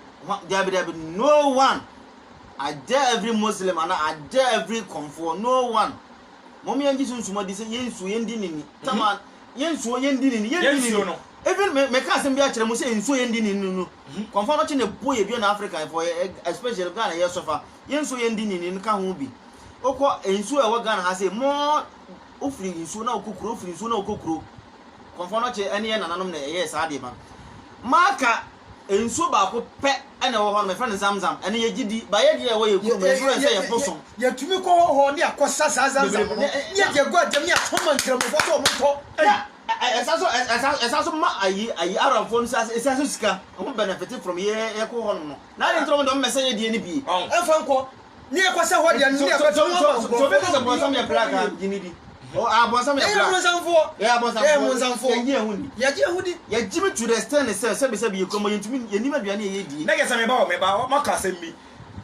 dabi dabi no one I dare every Muslim and I dare every confor no one Mom yɛn gye sunsum adi sɛ yɛn nsuo yɛn di ne ni. Tama yɛn nsuo yɛn di ne ni yɛn di ne ni. Even me me ka asɛm bi akyerɛ mo sɛ nsuo yɛn di ne ni no. Kɔnfa no kye ne bo yɛ dua na African fɔ especially Ghana yɛ sɔfa yɛn nsuo yɛn di ne ni no ka ho bi. Okɔ nsuo ɛwɔ Ghana ha sɛ mo ofiri nsuo na okɔ kuro ofiri nsuo na okɔ kuro kɔnfa no kye ɛne yɛn nananom na ɛyɛ saa deɛ ma maka. nsuo baako pɛ na ɛwɔ hɔ nom, yɛfrɛ no Zamzam, ɛno yɛ gyidi, but yɛ deɛ ɛwɔ yɛ kurom, yɛ frɛ no sɛ yɛ bosom. Yɛtumi kɔ hɔ hɔ ne akɔ sa saa Zamzam no, ne yɛ deɛ gu agyam ne ato ma nkramofɔ sɛ ɔmo ntɔ. Ei! Ɛsan so ma ayi ayi Arabfoɔ no sase sika, ɔmo benefit from yɛ yɛkɔ hɔ nom no, na adɛn nti na ɔmo deɛ ɔmo mɛsɛ yɛ deɛ no bi? Ɔn, ɛmfa nkɔ. Ne yɛ kɔ sɛ hɔ deɛ no ne yɛ kɔ sɛ wɔn ba so bɔnfɔ ne bɔnsam yɛ black a gyimi di abɔnsam yɛ black yɛ bɔnsamfoɔ yɛ bɔnsamfoɔ yɛ gyi ɛho di yɛ gyi ɛho di yɛ gyimi to the extent ne sɛ sɛbi sɛbi yɛ kura mo yɛ ntumi yɛ nim aduane yɛ yɛ die. ne yɛ sɛ meba wɔ meba wɔ maka asɛm bi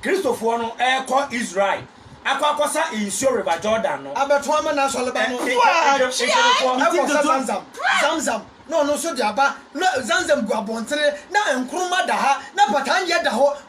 kristofoɔ no ɛkɔ israel akɔ akɔsa nsuo river jordan no abɛto ama na asɔre ba no nkristofoɔ ɛkɔ sɛ zamzam zamzam na ɔno nso de aba na zamzam gu abɔntene na nkroma da ha na patandeɛ da hɔ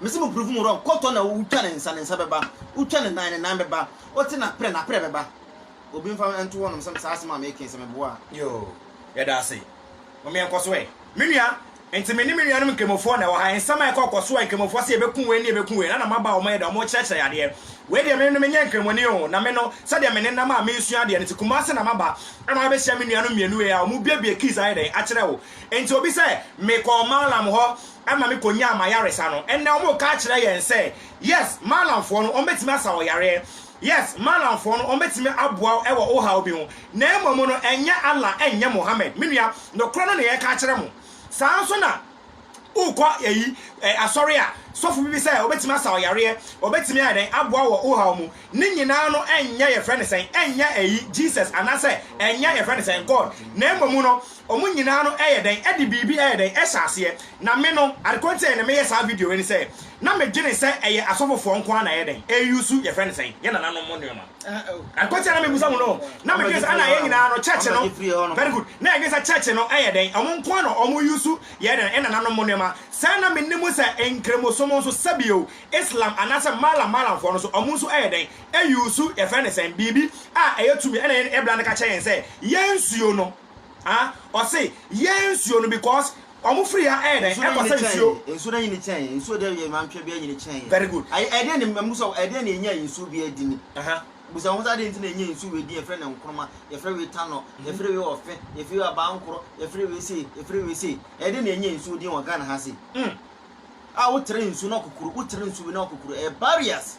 Mese mo privum rɔ kɔtɔ na wo twa ne nsa ne nsa bɛba wo twa ne nan ne nan bɛba wo te na prɛ na prɛ bɛba obi nfa nto hɔ nom sɛ saa asɛm a me ke sɛ me boa. Yoo yɛda ase mom yɛn kɔso ɛ. Me nua nti me ne me nuanom nkramofoɔ na ɛwɔ ha nsɛm a ɛkɔ kɔ so ɛ nkramofoɔ se yɛ bɛku wei ne yɛ bɛku wei na na mo aba a wɔn yɛ dɛ wɔn kyerɛ kyerɛ yɛ adeɛ wei deɛ me no me nyɛ nkramoni oo na me no sɛdeɛ me ne nam a me nsua adeɛ no nti kumase na ma ba ama bɛ hyia me nuanom mmienu wei a wɔn bue bue keys ayɛ dɛn akyerɛ wo nti obi sɛ me kɔ mallam hɔ ɛma me kɔnyaa m'ayaresa no, ɛnnɛ wɔn reka akyerɛ yɛn sɛ, yes, Maalamfoɔ no, wɔbɛtumi asa wo yareɛ, yes, Maalamfoɔ no, wɔbɛtumi aboa wo wɔ wo haw bi ho, na mmom no, ɛnyɛ Allah, ɛnyɛ Mohammed. Me nua, nokorɛ no na yɛreka akyerɛ mo. Saa ara nso na wokɔ ayi, ɛ, asɔre a, sɔfo bi bi sɛ, wɔbɛtumi asa wo yareɛ, wɔbɛtumi ayɛ dɛn, aboa wo wɔ wo haw mu. Ne nyinaa no, ɛnyɛ, yɛfrɛ no sɛn, ɛnyɛ ayi, Jesus, anaasɛ ɛnyɛ, yɛfrɛ no sɛn, God, na mmom no, wɔn nyinaa no yɛ dɛn de biribi yɛ dɛn hyɛ aseɛ. Na me no, ade korɔ nti a na meyɛ saa video wei ne sɛ, na medwene sɛ ɛyɛ asɔfofoɔ nko ara na ɛyɛ dɛn, ɛyɛ use yɛfrɛ no sɛn, yɛn nananom mu nnoɔma. Ade korɔ nti a na mebisa mo no, na medwene sɛ ɛna yɛn nyinaa no church no, very good, na yɛdwene sɛ church no yɛ dɛn, wɔn nko ara na wɔn use yɛ dɛn, yɛn nananom mu nnoɔma. Sɛɛ na menim sɛ Nkramosom nso, sɛbio Islam anaasɛ Malam Malamfoɔ no nso, wɔn nso yɛ dɛn, use yɛfrɛ no sɛn, biribi a ɛyɛ tumi, ɛna yɛn bra no ka kyerɛ yɛn sɛ yɛn nsuo no, Ah ɔse yɛn nsuo no because ɔmo firi ha ɛyɛ dɛn ɛkɔ sɛ nsuo. Nsuo no anyini kyɛn yɛn nsuo deɛ yɛ mantwɛ bi anyini kyɛn yɛn. Very good. Ayi ɛdeɛ ne mbusa wo ɛdeɛ na ɛnya nsuo bi ɛdi ni. Aha. Busa wo ho sɛ adeɛ nti na ɛnya nsuo wei di yɛfrɛ no nkroma yɛfrɛ wei tanɔ yɛfrɛ wei ɔfɛ yɛfrɛ wei abankoro yɛfrɛ wei sei yɛfrɛ wei sei ɛdeɛ na ɛnya nsuo din wɔ Ghana ha sei. Umm. A wo tere nsuo na ɔkokoro wo tere nsuo wei na ɔkokoro ɛyɛ barriers.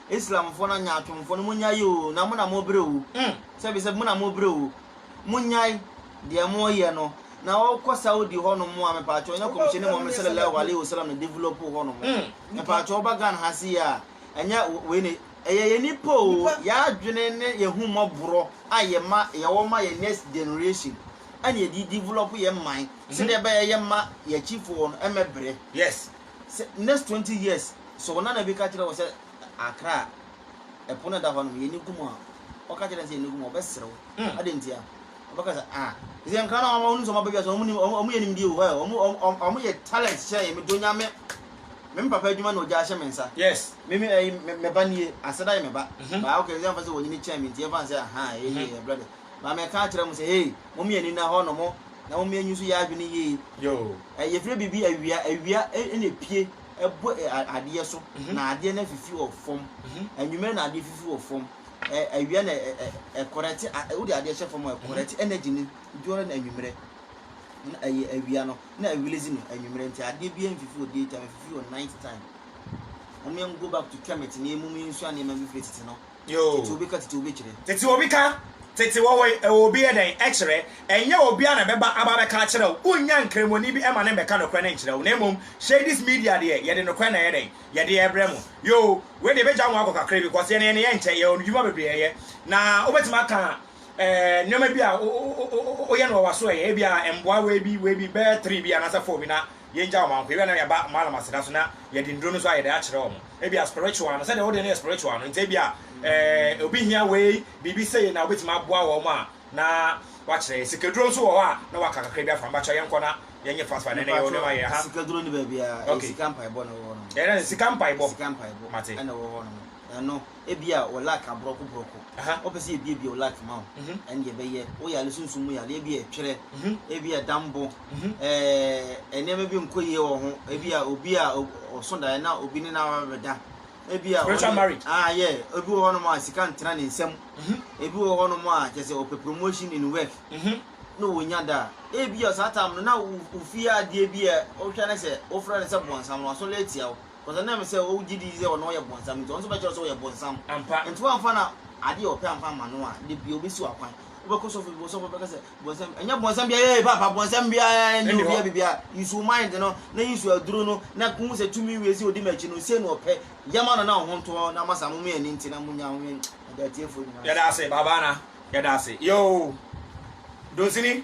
Islamfoɔ no anyaatwomfoɔ no, monnyae o, na mo na morebrɛ o, sɛbisɛbi mo na morebrɛ o, monnyae deɛ moreyɛ no, na wɔkɔ Saudi hɔ nom a, mepaakyɛw nyɛ Kɔmhyɛni Muhammad Salallahu Alaihi Wasallam na develop hɔ nom, mepaakyɛw woba Ghana ha sei a, ɛnyɛ wei na, ɛyɛ yɛn nipa o, yɛn adwene ne yɛn ahummɔborɔ a yɛma, yɛwɔ ma yɛn next generation ɛna yɛde develop yɛn man sɛdeɛ ɛbɛyɛ yɛmma yɛn akyifoɔ no mmɛbrɛ. sɛ next twenty years sɛ wo nana bi ka kyerɛ wo sɛ akra a ɛpo no da hɔ nom yɛni gu mu a ɔka kyerɛ no sɛ yɛni gu mu a ɔbɛsere wo hmm. adɛn nti a ɔbɛka sɛ ah ɛsɛ nkra no ɔmo sɛ ɔmo abɛdwa sɛ ɔmo yɛ nimdeɛ wɔ hɔ ɔmo ɔmo yɛ talent hyɛ yɛ medɔ nyame me papa adwuma na ɔgya ahyɛ me nsa yes me me ɛyi me ba nie aseda yɛ me ba mhm. baa ɔkɛ sɛ ɛmfa sɛ wɔnyini kyɛn me nti ɛmfa sɛ aha ɛyɛ mhm. ɛbrɛ de Maame a ka kyerɛ mo sɛ, Hey, momyɛ anina hɔ nom, na momyɛ anyi nso yɛ adwene yie. Yɛfrɛ biribi awia, awia na epue bɔ adeɛ so, na adeɛ no afifi wɔ fam. Anwummerɛ na adeɛ fifi wɔ fam. Awia na ɛkɔrɛte, wode adeɛ hyɛ fam a, ɛkɔrɛte energy no during anwummerɛ. Na ɛyɛ awia no, na ɛrelease no anwummerɛ. Nti adeɛ biara mfifi wɔ day time, ɛfifi wɔ night time. Momyɛ go back to Kemet na mmom yɛnsua nneɛma bi firi tete no. Tete obi ka tete obi kyerɛ. Tete obi ka tete wɔwoi ɛwɔ obi yɛ dɛn ɛkyerɛ. Ɛnyɛ obiara na ɛbɛba aba abɛka akyerɛ wo. Wonnya nkramoni bi ɛma no mmɛka nokorɛ no nkyerɛ wo. Na mmom Shadis Media deɛ yɛde nokorɛ na ɛyɛ dɛn? Yɛde ɛbrɛ mo. Yoo, wei deɛ ɛbɛgya mo akɔ kakra bi cos yɛn deɛ yɛn yɛ nkyɛ, yɛwɔ ndwuma bebree ɛyɛ. Na wobɛtumi aka nneɛma bi a woyɛ no wɔ w'aso ɛyɛ, ebia mboa wei bi, wei bi, bɛyɛ three bi anaasɛ four bi na yɛngya wɔn ahohwi, ebia na yɛba wɔn alamaseda so na yɛde nnuro no nso a yɛde akyerɛ wɔn, ebia spiritual no, sɛdeɛ wo deɛ no yɛ spiritual no nti ebia eh, obi hia wei, biribi sei na wobɛtumi aboa wɔn a na wakyerɛ yɛ. Sikaduro nso wɔ hɔ a na waka kakra bi afra, mpakyɛ yɛnkɔ na yɛnyɛ fast fast na ɛnɛ yɛwɔ nneɛma yɛ ha. Sika duro ni baabi a, ɛyɛ sika mpaebɔ na ɛwɔ hɔ nom. Ɛyɛ dɛ sika mpaebɔ? Sika mpaebɔ ɛna ɛwɔ hɔ nom, ɛno. ebia wɔ luck abrɔko brɔko Aha. wɔpɛ sɛ yɛbiebie wo luck ma wo Mhm. ɛndeɛ bɛyɛ wo yare sunsum mu yareɛ bi yɛ twerɛ Mhm. ebia dambo Mhm. ɛɛ nneɛma bi nkɔ yie wɔ ho ebia obi a o- ɔso daeɛ na obi ne no aba bɛda ebia Spiritual ɔne- marriage. ah yeah ebi wɔ hɔnom a sika ntena ne nsam Mhm. ebi wɔ hɔnom a kyɛ sɛ ɔpɛ promotion in work Mhm. na wɔnya da a ebia saa tam no na wo- wofie adeɛ bi a wohwɛ no sɛ wofrɛ no sɛ bɔnsam no wasɔre atia wo Because ɛnam sɛ wogye di sɛ ɔno ɔyɛ bonsam nti, ɔno nso bɛkyerɛ sɛ ɔyɛ bonsam. Ampa. Nti wamfa na adeɛ a ɔpɛ amfa amma no a, da biaa ɔbɛsi wo akwan. Wobɛkɔ sɔfo bi hɔ, sɔfo no bɛka sɛ, bonsam, ɛnyɛ bonsam biaa, ee paapa, bonsam biaa nni Ɛnni hɔ. obiaa biribiaa. Use wo mind no, na use aduro no, na wohu sɛ tumi wei sei ɔdi m'akyi no, sei na ɔpɛ. Yɛ ma no na wo ho ntɔ wo, na masa mo mmienu no nti na monya ho yɛ. Yɛda atiefoɔ nyinaa ase. Yɛda ase, Baba Ana. Yɛda ase. Yoo! Donsini.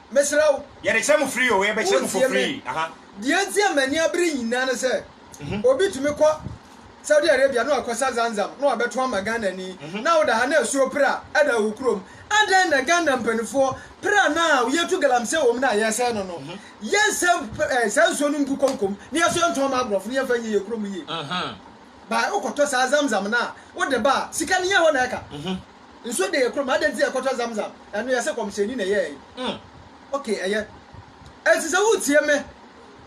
Mesrɛ wo. Yɛde kyerɛ mo frii oo, yɛbɛkyerɛ mo for free. Wontie me. Deɛ nti a m'ani abere nyinaa ne sɛ, obi tumi kɔ Saudi Arabia na wakɔsa Zamzam na wabɛto ama Ghanani, na woda ha na asuo pra da wo kurom. Adɛn na Ghana mpaninfoɔ pra no a yɛtu galamsey wɔ mu no a yɛsɛe no no, yɛnsɛ saa nsuo no ngu konko mu na yɛso yɛntɔn mma aborɔfo na yɛmfa nyɛ yɛn kurom yie? Bae wokɔtɔ saa Zamzam no a wode ba a, sika no nyɛ hɔ na ɛka. Nsuo de yɛ kurom adɛn nti yɛkɔtɔ zamzam ɛno yɛ sɛ kɔmhyɛni na ɛyɛɛ mm ok ɛyɛ ɛnti sɛ woretie me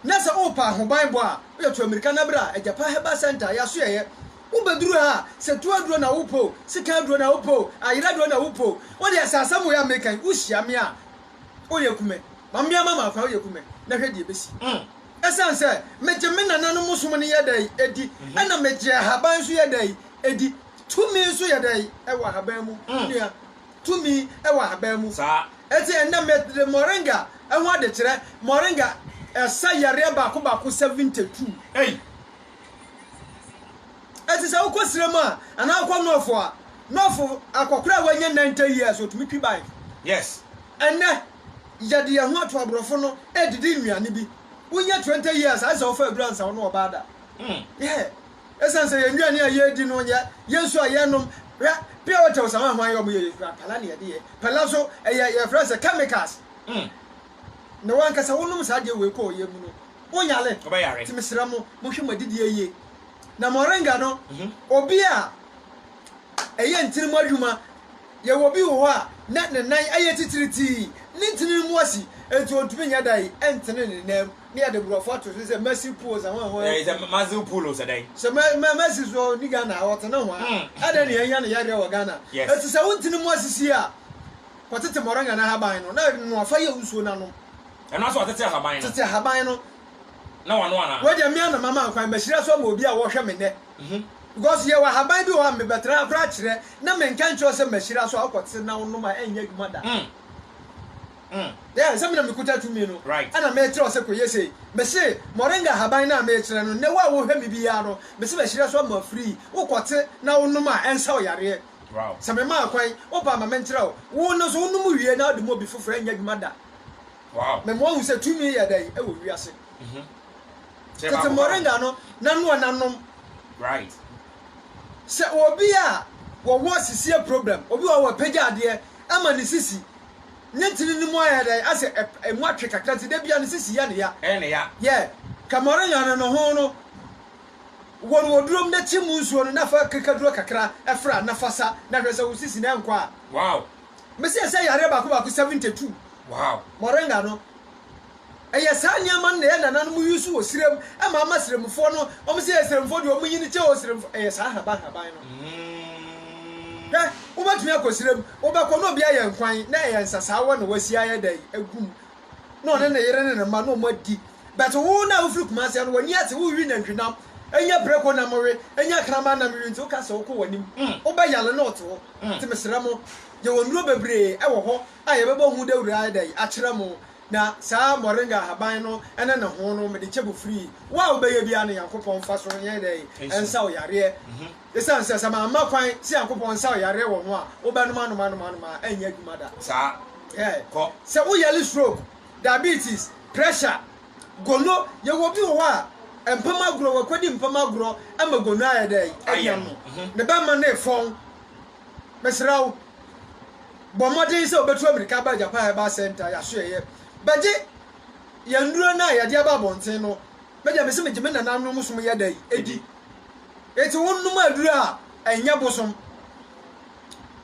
na sɛ wopɛ ahoban bɔ a woyɛ to amirika na bra agyapa herbal center yɛaso yɛyɛ wobɛduru ha sɛ tu aduro na wopɛ o sika aduro na wopɛ o ayera aduro na wopɛ o wodeɛ sɛ asɛm woyɛ amerika yi wohyia me a woyɛ kume ma mmea ma maakora woyɛ kume na hwɛ deɛ bɛsi mm. ɛsiane sɛ megye me nananom som no yɛ dɛ ɛdi ɛna megye ahaban nso yɛ dɛ ɛdi Tumi nso yɛ dɛn? Ɛwɔ ahaban mu, me nua. Tumi wɔ ahaban mu. Saa. Enti ɛnnɛ mede moringa ho ade kyerɛ. Moringa ɛsa yareɛ baako baako 72. Ei! Enti sɛ wokɔ serɛ mu a, anaa wokɔ nɔɔfo a, nɔɔfo akɔkora a wanya 90 years ɔtumi twi bae. Yes. Ɛnnɛ, yɛde yɛn ho ato aborɔfo no ɛredidi nnuane bi. Wonya 20 years a, ɛsɛ sɛ wofa aduru ansa wo ne wɔba ada. Mm. Yeah. Esiane sɛ yɛn nnuane a yɛredi no yɛ, yɛn nsu a yɛrenom, hwɛ, pure water wɔ Samoa hwan yɛ wɔn yɛ yɛ kura pala na yɛde yɛ, pala nso ɛyɛ yɛfrɛ no sɛ chemicals mm na wankasa wonom saa adeɛ wei kɔ ɔyɛ mu no wonyale, nti mesrɛ mo monhwɛ mo adidiɛ yie na moringa no mhm. obi a ɛyɛ ntini mu adwuma yɛwɔ bi wɔ hɔ a na ne nan ayɛ titiritii ne ntini mu asi nti ɔntumi nyɛ da yi ɛntene ne nan mu. Ne yɛde borɔfo ato so sɛ Mercy Pool sɛ hwan hwan. Ɛɛ sɛ Mercy Pool sɛ dɛn? Sɛ mɛ mɛ Mercy so ni Ghana a ɔte ne hwan? Hmm. Ɛdɛn na yɛnya no yareɛ wɔ Ghana? Yes. Ɛti sɛ wonte ne mu asisi a kɔtete moringa na ahaban no na noa fa yɛ nsuo na nom. Ɛno asɛ ɔtete ahaban no? Tete ahaban no. Na wano anaa? Wei deɛ mmea na mama nkwan mahyira so ama obi a wɔhwɛ me nnɛ. Mhm. Because yɛwɔ ahaban bi wɔ hɔ a mebɛtena akora akyerɛ na menka nkyerɛ sɛ mahyira so a wokɔte na wonom a ɛnyɛ adwuma da. Mm. Ɛɛ, sɛ me na mikuta tumi no, ɛna merekyerɛ wo sɛ kɔyɛ sei. Mese, Moringa ahaban no a merekyerɛ no, nnɛ wo a wohwɛ me biara no, mese bɛhyerɛ so ama afiri yi, wokɔte na wonom a, ɛnsa wo yareɛ. Sɛ memaa kwan, woba a ma menkyerɛ wo. Wo no nso, wonom wie na wode ma obi foforɔ, ɛnyɛ adwuma da. Mema woahu sɛ tumi yɛ dɛn wɔ wiase. Tete moringa no n'anoa na nom. Sɛ obi a wɔwɔ sisie problem, obi wɔ hɔ a wapagya adeɛ ama ne sisi, Ne tsir no mu ayɛ dɛ asɛ emu atwe kakra ntsi da biara ne sisi yɛ no ya. Ɛyɛ no ya. Yɛ, kɛma ɔrenya no no ho no, wɔ no wɔ duro mu na kyi mu nsuo no na fa krikaduro kakra fra na fa sa na hwɛ sɛ wo sisi no ɛnkɔ a. Wow! Mese ɛsɛ yareɛ baako baako 72. Wow! Moringa no. Ɛyɛ saa nneɛma no na ɛyɛ nananom use wɔ serem ɛma ama seremfoɔ no wɔn sɛ yɛ seremfoɔ deɛ wɔn nyini kyɛ o seremfoɔ ɛyɛ saa ahaban ahaban no hwɛ wobɛtumi akɔ serem wobɛkɔ na obi ayɛ nkwan na ɛyɛ nsasaawa na wasi ayɛ dɛ agum na ɔne ne yere ne ne mma na wɔn adi bɛte wo na wofiri kumase no wɔn ani ate wowi nantwinam ɛnyɛ preko nam we ɛnyɛ akraman nam wi nti woka sɛ wokɔ wɔn anim wobɛyale na ɔte hɔ nti mesrɛ mo yɛwɔ nnuro bebree ɛwɔ hɔ A yɛbɛbɔ ho dawur ara da yi akyerɛ mo, na saa moringa ahaban no ne ne hon no mede kyɛ mo free. Wo a wobɛyɛ bi ara no Nyankopɔn mfa so nyɛ dɛn? Nsa wo yareɛ. Esiane sɛ, sɛ mamma kwan sɛ Nyankopɔn nsa wo yareɛ wɔ ho a, wobɛnom anom anom anom a, ɛrenyɛ adwuma da. Saa. Ɛɛ. Kɔ. Sɛ wo yare stroke, diabetes, pressure, gono, yɛwɔ bi wɔ hɔ a, mpam agorɔ, wakɔdi mpam agorɔ ma gono ayɛ dɛn? Ayɛ no. Ne bɛmma no refɔn. Mesrɛ wo, bɔ mmɔden sɛ wobɛtu amirika aba Japan Herbal Centre yɛasoɛeɛ bɛgye yɛn nnuro no a yɛde aba abɔnten no, me deɛ mese megye me nananom som yɛ dɛn ɛdi? Enti wonom aduro a ɛnyɛ bosom,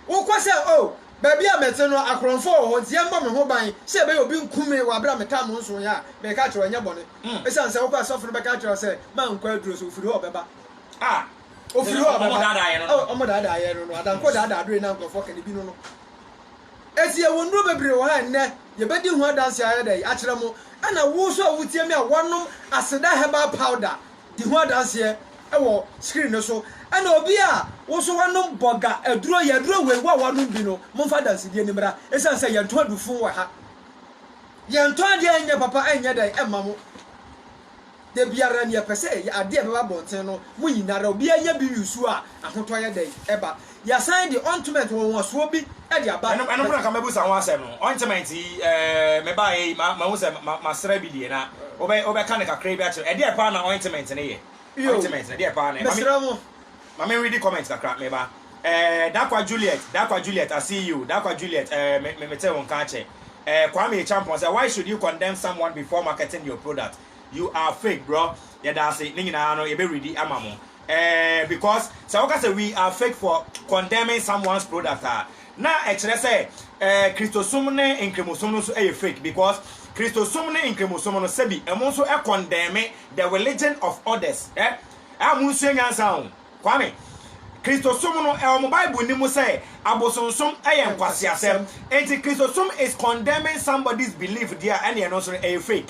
wokɔ sɛ oh baabi a mete no akorɔmfoɔ wɔ hɔ nti yɛmmɔ me ho ban sɛ ɛbɛyɛ obi nku me wɔ aberɛ a metaa mo nsoeɛ a, meka kyerɛ wo ɛnyɛ bɔne ɛsiane sɛ wokɔ a sɔfo no bɛka akyerɛ wo sɛ mankɔ aduro so, wofiri hɔ a ɔbɛba. Ofiri hɔ a ɔbɛba. Ɔmo daadaa yɛn no no. Adankɔ daadaa bere na nkurɔfoɔ ka ne bi no no. Eti yɛwɔ nnuro bebree wɔ ha a nnɛ yɛbɛdi ho adanse ayɛ dɛn akyerɛ mo. Ɛna wo nso a wotie me a woanom aseda herbal powder di ho adanseɛ wɔ screen no so. Ɛna obi a wo nso woanom bɔga aduro yi, aduro wei wo a woanom bi no momfa adansedie no mmra. Ɛsiane sɛ yɛntɔn adufoo wɔ ha. Yɛntɔn adeɛ a ɛnyɛ papa ɛnyɛ dɛn ɛmma mo. Da biara nea ɛpɛ sɛ ɛyɛ ade a ɛbɛba abɔnten no mu nyinara obiara nya bi wusu a ahotɔ yɛ dɛn? Ɛba. Yɛasan de ontment wɔnwasoɔ bi de aba. Ɛno ɛno mpo na nka mɛbusa ho asɛm no. Ontment yi eh, mebaeɛ yi ma mahu sɛ ma masra bi deɛ na wobɛ wobɛka no kakraa bi akyerɛ. Ɛdeɛ paa na ontment no yɛ? Ontment no ɛdeɛ paa na ɛma me? Mesrɛ mo. Ma me readi comment kakra, meba. Eh, Dakwa Juliet, Dakwa Juliet, I see you, Dakwa Juliet, eh, me, me, mete wo nka akyɛ. Eh, Kwame Acheampong sɛ, why should you condemn someone before marketing your product? You are fake, bro. Yɛda ase, ne nyinaa no, yɛbɛ readi ama mo. Eh, because sɛ woka sɛ we are fake for condemning someone's product a, na ɛkyerɛ sɛ, eh, Kristosom ne Nkramosom no nso yɛ fake, because Kristosom ne Nkramosom no, sɛbi, ɛmo nso condemn the religion of others, eh, a monsua nyansa o. Kwame, Kristosom no ɛwɔ mo bible no mu sɛ abosonsom ɛyɛ nkwaseasɛm enti Kristosom is condemning somebody's belief deɛ ɛne ɛno nso no ɛyɛ fake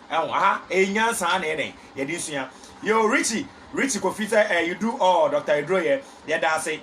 ɛho aha ɛyɛ nyansa na ɛdɛn yɛde nsua yo Richie Richie Kofi sɛ eh, you do all Dr. Eduro yɛ yɛda ase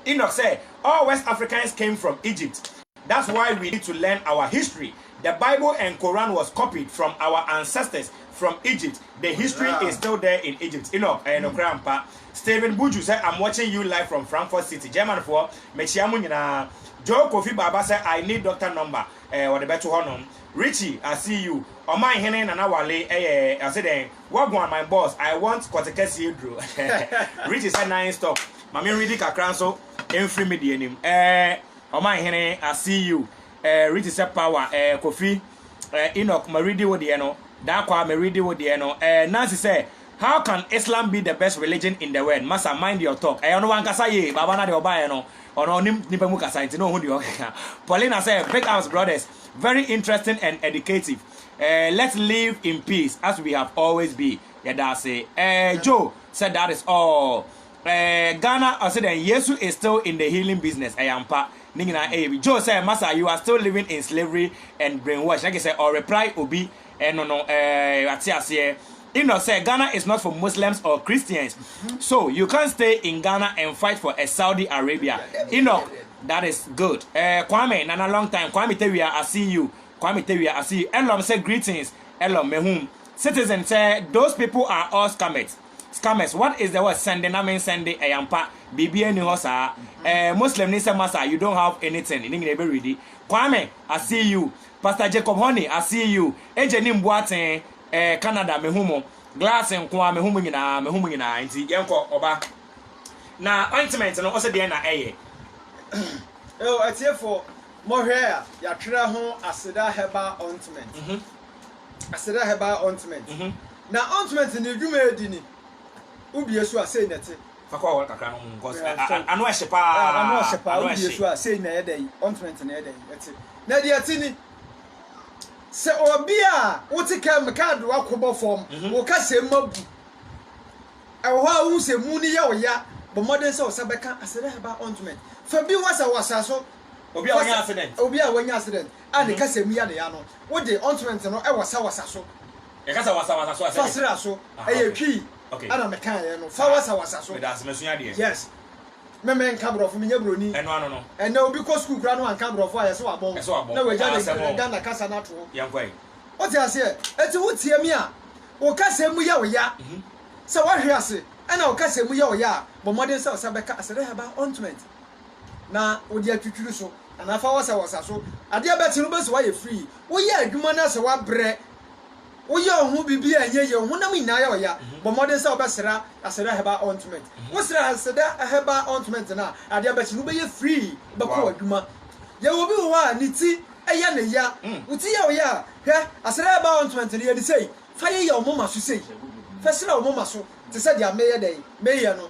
Enoch sɛ all West Africans came from Egypt That's why we need to learn our history, the bible and Koran was copied from our ancestors from Egypt, the history is still there in Egypt Enoch ɛyɛ nokorɛ ampa Steven Buju sɛ I'm watching you live from Frankfurt city German foɔ mekyea mo nyinaa Joe Kofi Baba sɛ I need doctor number ɛɛ wɔde bɛto hɔ nom Richie I see you Ɔman hene Nana Wale ɛyɛ ɔse dɛn Wagwan my boss I want kɔtekɛseɛ aduro Richie sɛ nine stop ma me redi kakra nso mfiri me deɛ nim ɛɛ. Ɔman hene I see you eh, Riti sɛ power eh, Kofi eh, Enoch ma redi wo deɛ no, Darkwa me redi wo deɛ no eh, Nancy sɛ how can Islam be the best religion in the world, Massa mind your talk, ɛyɛ ɔno wankasa yie, Baba na deɛ ɔbaeɛ no ɔno ɔnim nipa mu kasa nti na ɔhu deɛ ɔkeka, Paulina sɛ big ups brothers, very interesting and educative eh, let's live in peace as we have always be, yɛda ase eh, Joe sɛ that is all. Eeh Ghana ɔse dɛn Yesu is still in the healing business ɛyɛ ampa ne nyinaa ɛyɛ bi Joe sɛ masa you are still living in slavery and brainwash ɛke sɛ ɔreply obi ɛno no eeh wate aseɛ Enoch sɛ Ghana is not for Muslims or Christians so you can't stay in Ghana and fight for a Saudi Arabia Enoch that is good eeh Kwame Nana long time Kwame Tewia I see you Kwame Tewia I see you Elom sɛ greetings Elom mehum Citizen sɛ those people are all scammers. scammers what is the word sɛnde na me nsɛnde ɛyɛ ampa biribi ani hɔ saa ɛɛ muslim ni sɛ masa you don't have anything ne nyina ɛbɛ redi kwame i see you pastor jacob honey i see you ɛgye ne mbu aten ɛɛ canada me hu mo glass nkoa me hu mo nyinaa me hu mo nyinaa nti yɛn kɔ ɔba na ointment no ɔsɛ deɛ na ɛyɛ ɛwɔ atiefo mohwɛ a yɛatwerɛ ho aseda herbal ointment mm -hmm. Aseda Herbal Ointment na ointment ne dwumaadi ni wobie so a sei na ɛte. Fa kɔ awɔre kakra nom cos ano ɛhye paa. Ano ɔhye paa wobie so a sei na ɛyɛ dɛn ointment no ɛyɛ dɛn ɛte. Na deɛ ɛte ni sɛ obi a wote kaa mu kaa adoa kɔbɔ fam wo kasam mu abu ɛwɔ hɔ a wohu sɛ mu no yɛ wo ya bɔ mmɔden sɛ wo nsa bɛka Aseda Herbal Ointment fa bi wɔ sɛ wɔ sa so. Obi a wanya accident. Obi a wanya accident. a ne kasa mu ya ne ya no, wo de, ɔntrɛnt no wɔ sawasa so. Yɛka sɛ wasawasa so a, sɛdeɛ. Fa sra so. Aha, Ɛyɛ okay. twii Okay. ɛna mekaeɛ no. Fa Saa. wasawasa so. Meda ase, masua adeɛ. Yes. Me menka borɔfo, menyɛ buroni. Ɛno ano no. Ɛnnɛ obi kɔ sukuu koraa na wanka borɔfo a, ɛse wabɔn. Ɛse wabɔn. Na wagya Haa, ne asɛm o. Ghana kasa no ato hɔ. Yɛnkɔ ayi. Wote aseɛ? Enti wotie me a, wo kasa mu yɛ wo ya. Sɛ woahwe ase na wo kasa mu yɛ wo ya a, bɔ mmɔden sɛ wo sa bɛka Asere Haba, ɔntrɛnt. na wode atwitwiri so anaa fa wɔsawɔsa so. Adeɛ bɛkye no wobɛsi wo ayɛ free. Woyɛ adwuma no asɛ woabrɛ. Woyɛ wo ho biribi a ɛnyɛ yie, wo honam nyinaa yɛ ɔya. Bɔ mmɔden sɛ wobɛsra Aseda Herbal Ointment. Wosra Aseda Herbal Ointment no a, adeɛ bɛkye no wobɛyɛ free, wobɛkɔ w'adwuma. Yɛwɔ obi wɔ hɔ a ne ti yɛ no ya. Wo ti yɛ wo ya a, hwɛ Aseda Herbal Ointment no, yɛ no sei, fa yeyɛ wo moma so sei. Fa sra wo moma so te sɛ deɛ meyɛ dɛn? Meyɛ no.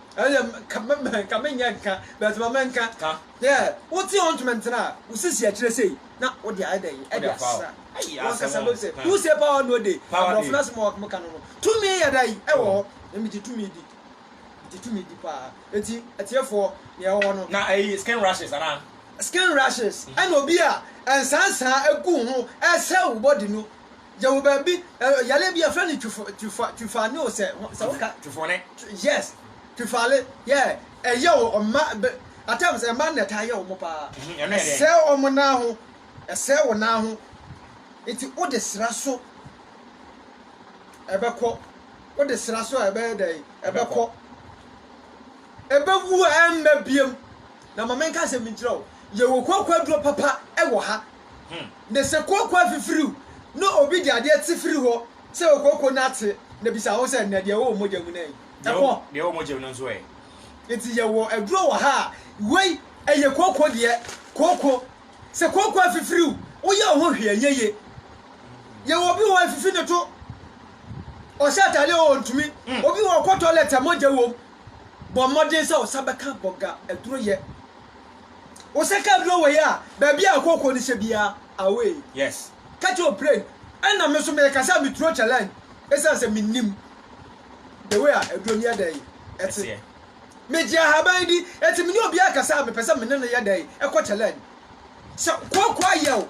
Ɛyɛ ka me me ka me nyɛ nka but ma me nka. Ka. Yeah wo te hɔ ntumi ntena a wo sisi akyire sei na wo de ayɛ dɛn ɛde asra ayii asɛm ɔkasa bɛbi sɛ who say power no de abrɔfo no asɛm a wɔn ka no no tumi yɛ dɛn ɛwɔ hɔ na me gye tumi di me gye tumi di paa eti atiefoɔ nea ɛwɔ hɔ no. Na ɛyi skin rashes anaa. Skin rashes ɛna obi a nsansan egu ho ɛsɛ wo body no yɛwɔ baabi eh, yare bi yɛfrɛ no twifo twifa twifane o sɛ sɛ woka twifone yes twifale yɛ ɛyɛ wɔ ɔma at times ɛma na ɛtaa yɛ wɔn paa mhm, ɛsɛ wɔn nan ho ɛsɛ wɔn nan ho nti wode sra so ɛbɛkɔ wode sra so a ɛbɛyɛ dɛ ɛbɛkɔ ɛbɛwu a ɛmmɛ biem na ma menka asɛm nkyerɛ wo yɛwɔ kokwaduro papa ɛwɔ ha Na sɛ kooko afifiriw na obi de adeɛ te firi hɔ sɛ okooko no ate na bisa wo sɛ, Na deɛ ɛwɔ wo mogya mu no ɛ? Ɛkɔ. Deɛ ɛwɔ mogya mu no nso ɛ? Enti yɛwɔ aduro wɔ ha a wei ɛyɛ kooko deɛ. Kooko, sɛ kooko afifiriw, woyɛ wo ho hwee ɛnyɛ ye. Yɛwɔ obi wɔ afifi ne to, ɔhyɛ ataadeɛ wɔ ɔntumi. Hmm. Obi wɔ ɔkɔ toilet a mogya wom. Bɔ mmɔden sɛ wo nsa bɛka bɔga aduro yɛ. Wo sɛ car bi no wɔ yɛ a baabi a ɛkɔ kɔ no hyɛ biara away. Yes. Ka kyerɛ Oprey. Ɛna me so me kasa a me turo challenge ɛsiane sɛ me nim the way a aduro no yɛ dɛ yi ɛte. Me gye ahaban di ɛti me ne obiara kasa a me pɛ sɛ me ne no yɛ dɛ yi ɛkɔ challenge. Sɛ kooko ayɛ o.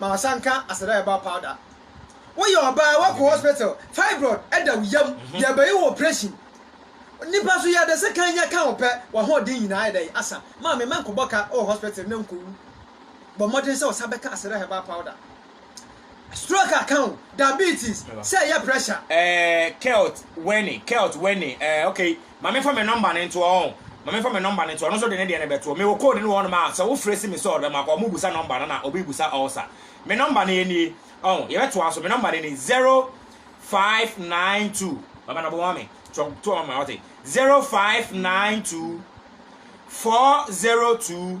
ma ɔsan ka aseda herbal powder. Woyɛ ɔbaa wakɔ hospital fibroid da wo yam yɛbɛyɛ wo operation nipa so yɛde sekan nya ka wo pɛ wahoɔden nyinaa ayɛ dɛn asa maame ma nkɔbɔ ka wɔ hospital na nkɔwu bɔ mmɔden sɛ ɔsan bɛka aseda herbal powder stroke aka wo diabetes sɛ ɛyɛ pressure. Eh, Kelt Wene, Kelt Wene, eh, okay. Ma menfa me nɔmba no ntoɔ ɔn, ma menfa me nɔmba no ntoɔ, ɔno nso de ne deɛ no bɛtoɔ. Mewɔ code no wɔ hɔnom a, sɛ wofrɛ si me sɛ ɔdɔ ma kɔ, wɔbusa nɔmba no na obi busa ɔɔsa. Me nɔmba no yɛ nie ɔn, yɛbɛtoa so, me nɔmba no ni, zero five nine two, Baba Nɔbo ma me, to to ma me wate, zero five nine two, four zero two,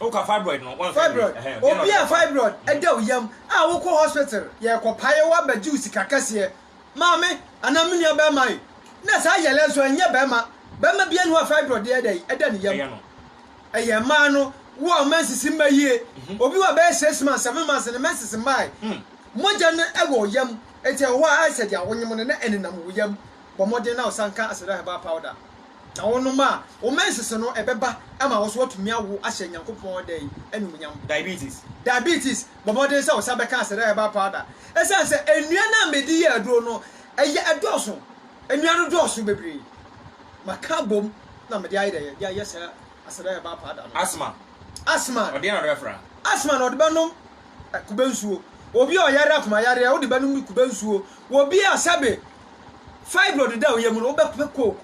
Woka fibroid no wamfɛ no Fibroid, ɛhɛn, deɛ na obi ɔde a bɛkɔ no. fibroid da wo yam a wokɔ hospital yɛkɔ paeɛ wabɛgye wo sika kɛseɛ, maame anaa me nua barima ei, na saa yɛlɛ nso ɛnyɛ barima, barima biara nni hɔ a fibroid deɛ ɛda yi ɛda ne yam, Ɛyɛ no. ɛyɛ mmaa no, wo a wo menses mma yie, obi wɔ bɛyɛ six months, seven months ne menses mmae, mogya no ɛwɔ wo yam, enti ɛwɔ hɔ a ayɛ sɛ deɛ awonyem no na ɛnenam wo yam, bɔ mmɔden na ɔsan ka Aseda Herbal Powder na wonom a, wo mensese no ɛbɛba ama wo nso woatumi awo ahyɛ Nyankopɔn dɛn? Anuonyam. Diabetes. Diabetes, bɔ mmɔden sɛ wosan bɛka Aseda Herbal Powder ɛsiane sɛ nnua no a mede yɛ aduro no ɛyɛ ɛdɔɔso, nnua no dɔɔso bebree, maka abom na mede ayɛ dɛn? De ayɛ saa Aseda Herbal Powder no. Asthma. Asthma. Ɔdeɛn na ɔde bɛfra? Asthma no ɔde bɛnom kube nsuo, obi a ɔyare akomayareɛ wode bɛnom kube nsuo, obi a sɛbe fibroid da wo yam no, wobɛpɛ Coke.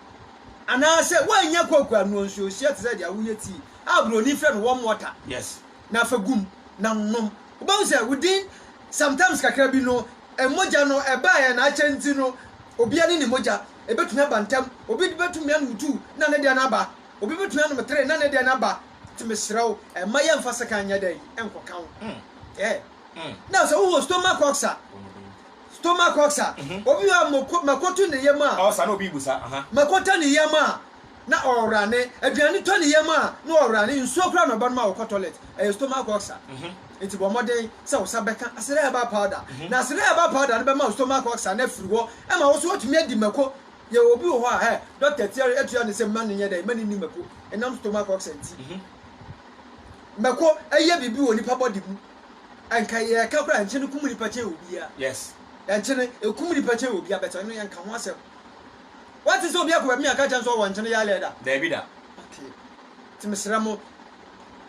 Anaasɛ woannya Coke a, noa nsuo hyɛ te sɛ deɛ woyɛ tea a buroni frɛ no warm water Yes. na fa gu mu na nom. Wobɛhu sɛ within sometimes kakra bi no, mogya no ɛbaeɛ no akyɛ nti no, obi ani ne mogya. Ɛbɛtumi aba ntɛm. Obi de bɛtumi anom two na ne deɛ no aba. Obi bɛtumi anom three na ne deɛ no aba. Nti mesrɛ wo, mma yɛmfa sekan nyɛ dɛn? Nkɔka wo. Ɛɛ. Na sɛ wohɔ stomach ulcer. Stomach ulcer, Obi wɔ hɔ a mako to ne yam a, ulcer, na obi bu sa, aha. Mako tɔ ne yam a, na ɔrane. Aduane tɔ ne yam a, na ɔrane. Nsuo koraa na ɔbɛnom a ɔkɔ toilet, ɛyɛ stomach ulcer. Enti bɔ mmɔden sɛ wo sa bɛka Asere herbal powder. Na Asere herbal powder no bɛma wo stomach ulcer no afiri hɔ ma wo nso woatumi adi mako. Yɛwɔ obi wɔ hɔ a, hɛ, dɔkta tua, atua no sɛ mma no nyɛ dɛn, mma no nni mako, ɛnam stomach ulcer nti. Mako yɛ biribi wɔ nipa body mu. Anka yɛ ka koraa nkyene kum nipa kyɛn obia yes nkyene ekum nipa kyɛn obia bɛtɛ ɔno yɛ nka ho asɛm wate sɛ obia kɔ baabi aka kyɛn so ɔwɔ nkyene yɛ alɛ da daabi da okay te mesrɛ mo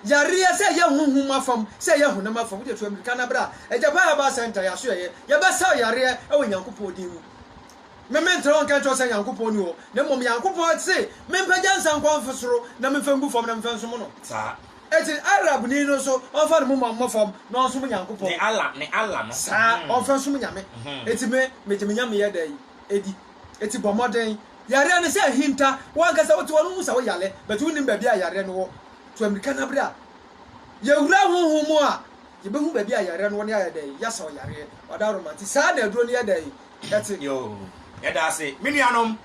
yareɛ sɛ yɛ honhom afam sɛ yɛ honam afam wode tu amirika na bra agyapa herbal center yɛaso yɛyɛ yɛbɛsaw yareɛ ɛwɔ nyankopɔn din mu meme ntra hɔ nka nkyerɛ sɛ nyankopɔn ni hɔ na mmom nyankopɔn se mempagya nsa nkɔ mfo soro na memfa ngu fam na memfa nsom no saa Enti Arabni no nso, ɔmfa ne moma mmɔ fam na ɔnsom Nyankopɔn. Ne Allah, ne Allah no. Saa, ɔmfa nsom Nyame. Enti me, megye me Nyameyɛ dɛn? di. Enti bɔ mmɔden. Yareɛ no sɛ ahinta. Wo ankasa wote hɔ no wohu sɛ wo yare, but wonnim baabi a yareɛ no wɔ. Tu amirika na bra. Yɛwura honhom mu a, yɛbɛhu baabi a yareɛ no wɔ na yɛayɛ dɛn? Yɛasa wo yareɛ. Ɔdawroma nti, saa na aduro no yɛ dɛn? Ɛte. Yoo. Yɛda ase, me nuanom,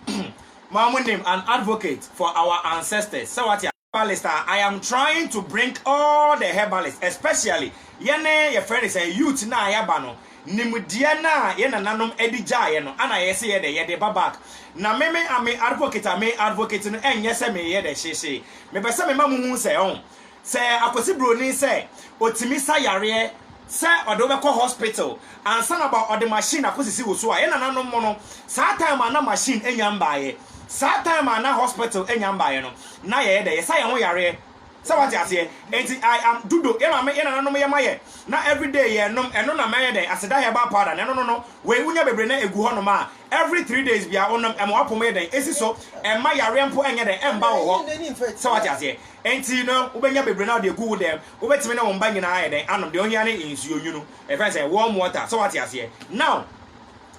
mo a monnim, an advocate for our ancestors, sɛ wate aseɛ. herbalist a I am trying to bring all the herbalist especially yɛne yɛfrɛ no sɛn youth no a yɛaba no nimdeɛ no a yɛ nananom de gyaeɛ no ana yɛse yɛ dɛ yɛde ba back na me me a me advocate a me advocate no ɛnyɛ sɛ me yɛ dɛ hyehyee mepɛ sɛ mema mo hu sɛ ɔn sɛ Akwasi Broni sɛ ɔtumi sa yareɛ sɛ ɔde wo bɛkɔ hospital ansa na ɔba ɔde machine akɔsisi wo so a, yɛn nananom mo no, saa time a na machine ɛnya mbaeɛ, saa time a na hospital ɛnya mbaeɛ no, na yɛyɛ dɛ, yɛsa yɛn ho yareɛ, sɛ wate aseɛ, ɛnti I am dudo, yɛn maame, yɛn nananom yɛ ma yɛ, na everyday yɛn nom, ɛno na mɛyɛ dɛn, aseda herbal powder, na ɛno no no, wei wonya bebree na ɛgu hɔ nom a, every three days biara wo nom, ɛma w'apɔmu yɛ dɛn, ɛsi so, ɛmma yareɛ mpo ɛnyɛ dɛn, ɛmba wo hɔ, sɛ wate aseɛ, ɛnti no wobɛnya bebree na wode agu wo dɛm, Wobɛtumi ne wo mma nyinaa ayɛ dɛn anom? Deɛ ohia ne nsuo nwunu, yɛfrɛ no sɛ warm water, sɛ wate aseɛ. Now,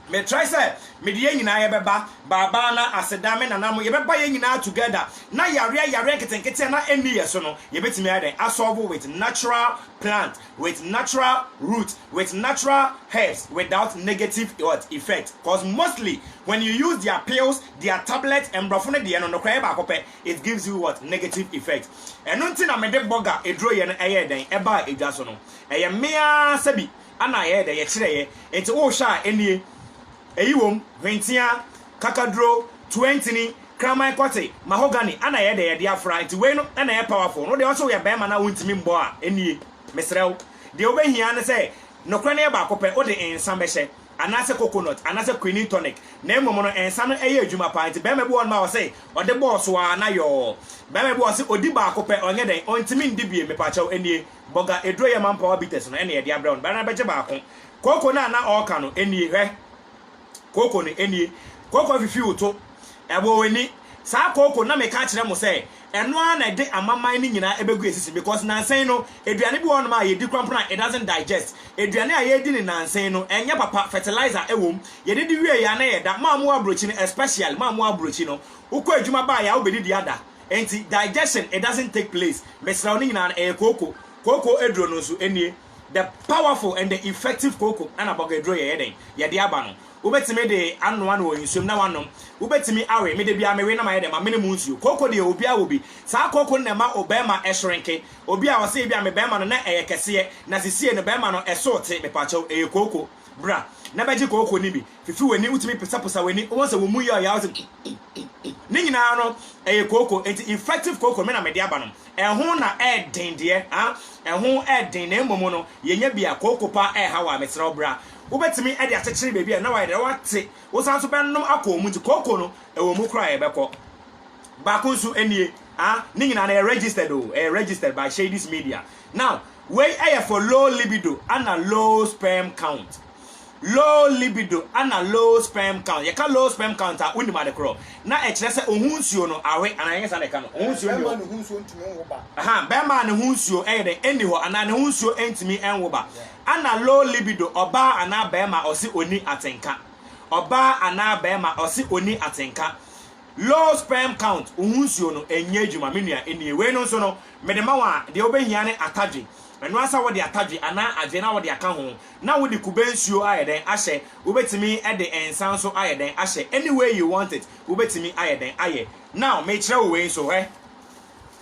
me try sɛ mede yɛn nyinaa yɛbɛba, Babaana, Aseda, me nana mo, yɛbɛba yɛn nyinaa together, na yareɛ yareɛ nketenkete a na ɛnni yɛn so no, yɛbɛtumi ayɛ dɛn asɔlvo with natural plant, with natural root, with natural herbs, without negative what? Effect. Cause mostly, when you use their pills, their tablets, mmorɔfo no deɛ no, nokorɛ ɛyɛ baako pɛ, it gives you what? Negative effect. Ɛno nti na mede bɔga eduro yɛ no ɛyɛɛ dɛn ɛbaa edwa so no. Ɛyɛ mmee ara sɛbi ɛna yɛyɛ dɛn yɛkyerɛeɛ. Nti wohwɛ a ɛnie, ɛyi wɔ mu, hwentia, kakaduro, tuantini, kraman kɔte, mahogany ɛna yɛyɛ dɛn yɛde afra. Nti wei no ɛna ɛyɛ powerful. Wodeɛ wose woyɛ barima na wontumi mmɔ a ɛnie, mesrɛ wo. Deɛ wobɛhia ara ne sɛ, nokorɛ no yɛ baako pɛ, wode nsa bɛhyɛ. anaasɛ coconut anaasɛ quinine tonic na mmom no nsa no yɛ adwuma paa nti barima bi wɔ hɔ nom a ɔse ɔde bɔɔ so aa na yɔɔ barima bi wɔ hɔ ɔse ɔdi baako pɛ ɔnyɛ dɛn ɔntimi ndi biem mepakyɛw ɛnie bɔga aduro yɛ manpower bitters no ɛna yɛde abrɛ wo no barima no bɛgye baako cocoa no a na ɔɔka no ɛnie hwɛ cocoa no ɛnie cocoa fifi wo to ɛbɔ w'ani saa cocoa no na meka kyerɛ mo sɛ ɛno ara na ɛde amaman no nyinaa ɛbɛgu yɛn sisi because nansa yi no aduane bi wɔ hɔnom a yɛdi korampra a it doesn't digest, aduane a yɛredi no nansa yi no ɛnyɛ papa, fertilizer ɛwɔ mu, yɛdidi wie yɛ a na yɛda, mo a mowɔ aburokyi no especially mo a mowɔ aburokyi no wokɔ adwuma ba a yɛ a wobɛdidi ada nti digestion it doesn't take place, mesrɛ wo ne nyinaa no ɛyɛ kooko, kooko aduro no nso nie, the powerful and the effective kooko ɛna bɔga aduro yɛyɛ dɛn yɛde aba no. Wobɛtumi de anoa no wɔ nsuom na woanom. Wobɛtumi awe, me da biara mewe na mayɛ dɛn, mamene mu nsuo. Kooko deɛ obiara wɔ bi. Saa kooko no na ɛma obarima shrinke. Obi a ɔse ebi a me barima no na ɛyɛ kɛseɛ na sesie no barima no ɛsoo te, mepakyɛw, ɛyɛ kooko. Bra na bɛgye kooko no bi. Fifi w'ani, wotumi posaposa w'ani, wobɛhu sɛ wo mu yɛ ɔyaw sɛ kikikiki. Ne nyinaa no ɛyɛ kooko. Enti infective kooko no me na mede aba no. Ɛho na ɛden deɛ, ah, ɛho ɛden na mmom no yɛnya bi a kooko paa ɛɛha wo a, mesrɛ wo bra. wobɛtumi de akyekyere baabi a na wayɛ dɛ, woate, wosan nso bɛnom akɔ wɔn mu nti, kooko no, ɛwɔ mu koraa a yɛbɛkɔ. Baako nso nie, ah, ne nyinaa no ɛyɛ registered o, ɛyɛ registered by Shadys Media. Now, wei ɛyɛ for low libido ana low sperm count. Low libido ana low sperm count. Yɛka low sperm count a, wonim ade korɔ, na ɛkyerɛ sɛ oho nsuo no awe, anaa ɛnyɛ saa na yɛka no? Oho nsuo nni hɔ. Bɛrima a ne ho nsuo ntumi nwo ba. Aha, bɛrima a ne ho nsuo ɛyɛ dɛ, ɛnni hɔ, anaa ne ho nsuo ntumi nwo ba. Ana low libido ɔbaa anaa barima a ɔse ɔnni atenka? Ɔbaa anaa barima a ɔse ɔnni atenka. Low sperm count, wo ho nsuo no ɛnyɛ adwuma me nua nnie wei no nso no mede ma wo a deɛ wobɛhia ne atadwe ɛno ara sɛ wode atadwe anaa adwe na wode aka ho na wode kube nsuo ayɛ dɛn ahyɛ wobɛtumi de nsa nso ayɛ dɛn ahyɛ any way you want it wobɛtumi ayɛ dɛn ayɛ now mekyerɛ wo wei nso hwɛ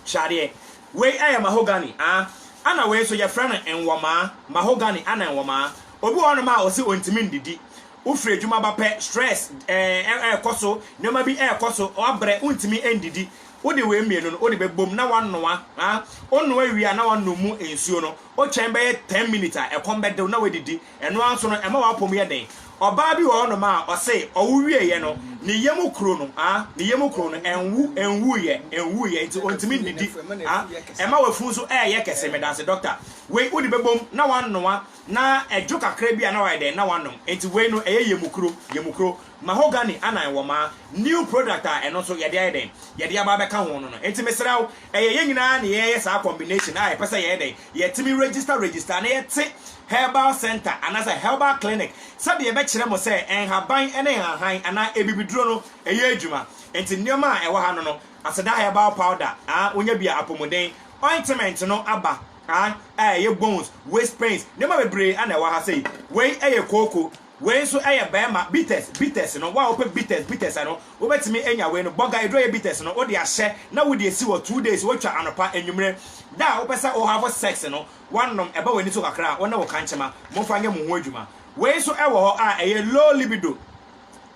Hwɛ adeɛ. Wei ɛyɛ mahogany aa ɛna wei nso yɛfrɛ no nwɔmaa, mahogany ɛna nwɔmaa. Obi wɔ hɔnom a ɔse ɔntumi ndidi, wofiri adwuma ba pɛ stress ɛɛkɔ so, nnoɔma bi ɛɛkɔ so, wabrɛ wontumi ndidi, wode wei mmienu no wode bɛbom na wanoa aa, wonoa wie a na wanom mu nsuo no, wotwɛn bɛyɛ ten minutes a ɛkɔm bɛde wo na wadidi. Ɛno ara nso no, ɛma w'apɔ mu yɛ den. Ɔbaa bi wɔ hɔnom a, ɔse ɔwo wieeɛ no, ne yam kuro no, ah, ne yam kuro no, ɛnwo, ɛnwuiɛ, ɛnwuiɛ, nti ɔntumi nnidi, ah, ɛma w'afunu nso reyɛ kɛse. Medanse, dɔkta. Wei wode bɛbom na w'anoa, na ɛdwo kakra bi a na w'ayɛ dɛn, na w'anom. Nti wei no, ɛyɛ yam kuro, yam kuro. Mahogany anan wɔmaa, new product a ɛno nso yɛde ayɛ dɛn, yɛde aba abɛka ho no no. Nti mesrɛ wo, Ɛyɛ yɛn nyinaa na yɛyɛ saa combination a yɛpɛ sɛ yɛyɛ dɛn? Yɛtumi register register na yɛte herbal centre anaasɛ herbal clinic sɛdeɛ yɛbɛkyerɛ mo sɛ nhaban ne nhahan anaa abibiduro no ɛyɛ adwuma. Nti nneɛma a ɛwɔ ha no no, aseda herbal powder ah, wonya bi a apomuden, ointment no aba ah, a ɛyɛ bones, waist pains, nneɛma bebree na ɛwɔ ha sei. Wei yɛ kooko, Wei nso yɛ bɛɛma bitters bitters no wo a wopɛ bitters bitters a no wobɛtumi anya wei no bɔga eduro yɛ bitters no wode ahyɛ na wode asi hɔ two days wotwa anɔpa anwummerɛ da a wopɛ sɛ wo have sex no woanom ɛba w'ani so kakra a wo ne wo kankyema momfa nyɛ mo ho adwuma wei nso wɔ hɔ a ɛyɛ low libido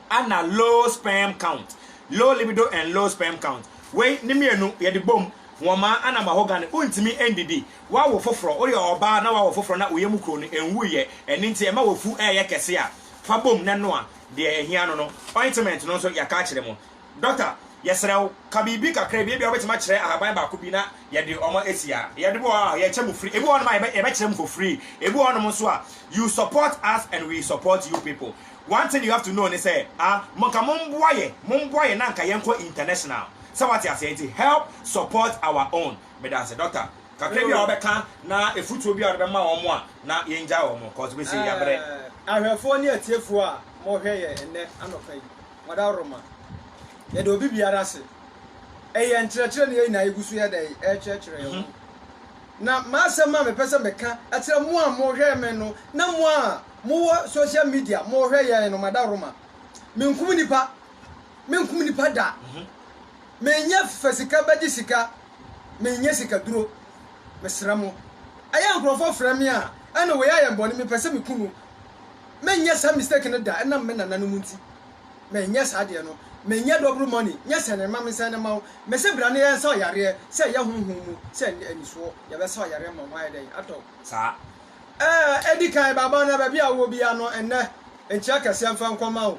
ana low sperm count low libido and low sperm count wei ne mmienu yɛde bom wɔmaa ana mahogany wontumi ndidi Woawo foforɔ, woyɛ ɔbaa na woawo foforɔ na wo yam kuro no nwuiɛ, ɛno nti ɛma w'afu reyɛ kɛse a, fa bom na noa deɛ ɛhia no no. Ointment no nso, yɛaka akyerɛ mo. Dɔkta, yɛsrɛ wo, ka biribi kakra bi, ebia wobɛtumi akyerɛ ahaban baako bi na yɛde wɔn asi ha. Yɛde bi wɔ hɔ a, yɛkyɛ mo free, ebi wɔ hɔnom a, yɛbɛkyerɛ mo for free, ebi wɔ hɔnom nso a, you support us and we support you people. One thing you have to know ne sɛ, a, monka momboa yɛ, momboa yɛ na anka yɛnkɔ international. Sɛ woate aseɛ? Nti help support our own. Meda nse doctor kakra bi a wɔbɛka na efutuo bi a wɔde bɛma wɔn a na yɛn gyae wɔn cause bɛ se yabrɛ. Ahwɛfoɔ ne atiefoɔ a mo hwɛ yɛ ɛnɛ anɔpa yi wada roma yɛda obi biara ase ɛyɛ nkyerɛkyerɛ ne yɛn nyinaa yɛ gu so yɛ dɛn ɛrekyerɛkyerɛ yɛn ho na m'asɛm a mepɛ sɛ meka ɛkyerɛ mo a mo hwɛ me no na mo a mo wɔ social media mo hwɛ yɛn no mada roma menkum nipa menkum nipa da. Menyɛ fa sika bɛgye sika, menyɛ sikaduro, mesrɛ mo. Ɛyɛ nkorɔfoɔ frɛ me a, ɛne wei ayɛ bɔne, mepɛ sɛ meku no. Menyɛ saa mistake no da, ɛnam me nananom nti. Menyɛ saa deɛ no. Menyɛ double money, nyɛ sɛne mma mensɛn no mma wo. Mese bra na yɛnsa ɔyareɛ, sɛ ɛyɛ honhom mu, sɛ ɛnyɛ anisoɔ, yɛbɛsa ɔyareɛ ama wo, ayɛ dɛn, atɔ wo saa. Ɛɛ, ɛdi kan, baba, na baabi a wowɔ biara no, ɛnnɛ, nkyea kɛseɛ mfa nkɔma wo.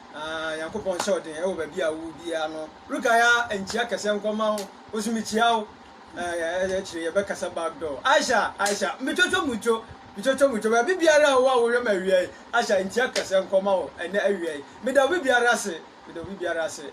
Aah Nyankopɔn nhyɛ wo den wɔ baabi a wowɔ biara no. Rukaya nkyia kɛse nkɔma wo nso mekyia wo. Ɛɛ akyire yɛbɛkasa back door. Aisha Aisha metwotwo mutwo metwotwo mutwo baabi biara a wowɔ a wohwɛ me awia yi. Aisha nkyia kɛse nkɔma wo ɛnɛ awia yi. Meda obi biara ase meda obi biara ase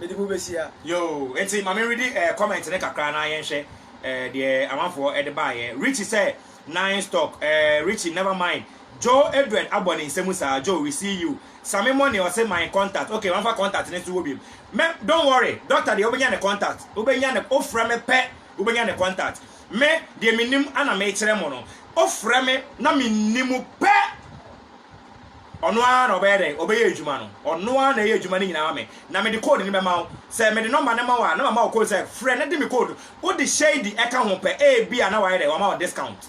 mede mo bɛhyia. Yoo enti ma me readi ɛɛ comment no kakra na yɛnhwɛ ɛɛ deɛ amanfoɔ de baeɛ. Richie sɛ nice talk ɛɛ Richie never mind Joe Edward abɔ ne nsa mu saa Joe we see you Same money ɔse my contact ok wamfa contact no nso wɔ biom mɛ don't worry doctor deɛ wobɛnya ne contact wobɛnya ne wofrɛ me pɛ wobɛnya ne contact me deɛ menim ana mekyerɛ mo no wofrɛ me na menni mu pɛ ɔno ara na ɔbɛyɛ dɛn ɔbɛyɛ adwuma no ɔno ara na ɛyɛ adwuma no nyinaa me na mede code no bɛma wo sɛ mede nɔmba no ma wo a na mama wo code sɛ frɛ na de me code wode shady ɛka ho pɛ ebi a na wayɛ dɛn wama wo discount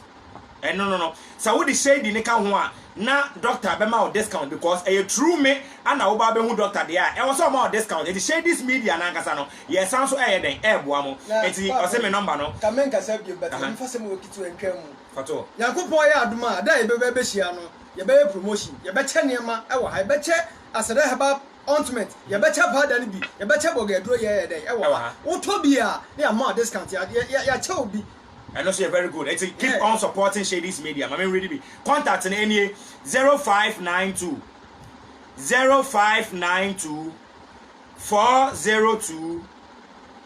Ɛno no no sɛ wode shady no ka ho a na doctor bɛma wo discount because ɛyɛ true me ana wo ba bɛhu doctor deɛ a ɛwɔ sɛ ɔma wo discount nti shady's media no ankasa no yɛsan nso ɛyɛ dɛn ɛɛboa mo nti ɔse me number no Ka menkasa biom but yɛn mfa sɛm wɔ ketewa ntwa mu. Fa to hɔ. Nyankopɔn yɛ adom a da a yɛbɛba abɛhyia no yɛbɛyɛ promotion yɛbɛkyɛ nneɛma ɛwɔ ha yɛbɛkyɛ Aseda herbal ointment yɛbɛkyɛ powder no bi yɛbɛkyɛ bɔgɛ aduro yɛɛyɛ dɛn ɛwɔ ha wotɔ bi a na yɛama wo discount yɛ yɛ yɛakyɛ wo bi Ɛno nso yɛ very good eti keep on supporting Shadys Media ma me ready bi contact no enie zero five nine two zero five nine two four zero two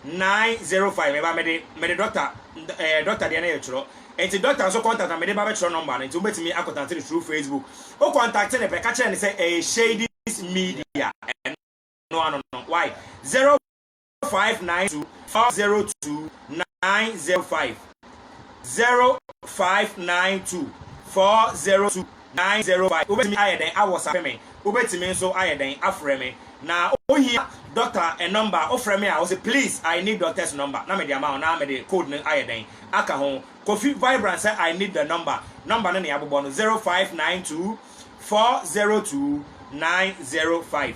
nine zero five ɛba mede mede dɔkta ɛɛ dɔkta deɛ no yɛ twerɛ nti dɔkta nso contact na mede ba bɛtwerɛ nɔmba no nti wobɛtumi akɔtate no through Facebook o contact ne pɛ ka kyerɛ ne sɛ ɛyɛ Shadys Media ɛno ano no why zero five nine two four zero two nine zero five zero five nine two four zero two nine zero five wobɛtumi ayɛ dɛn awɔsape me wobɛtumi nso ayɛ dɛn afrɛ me na ohia dɔkta nɔmba wofrɛ me a wɔsɛ please i need doctor's number na mede ama wo na mede code no ayɛ dɛn aka ho kofi vibrant sɛ i need the number nɔmba no ne abobɔ no zero five nine two four zero two nine zero five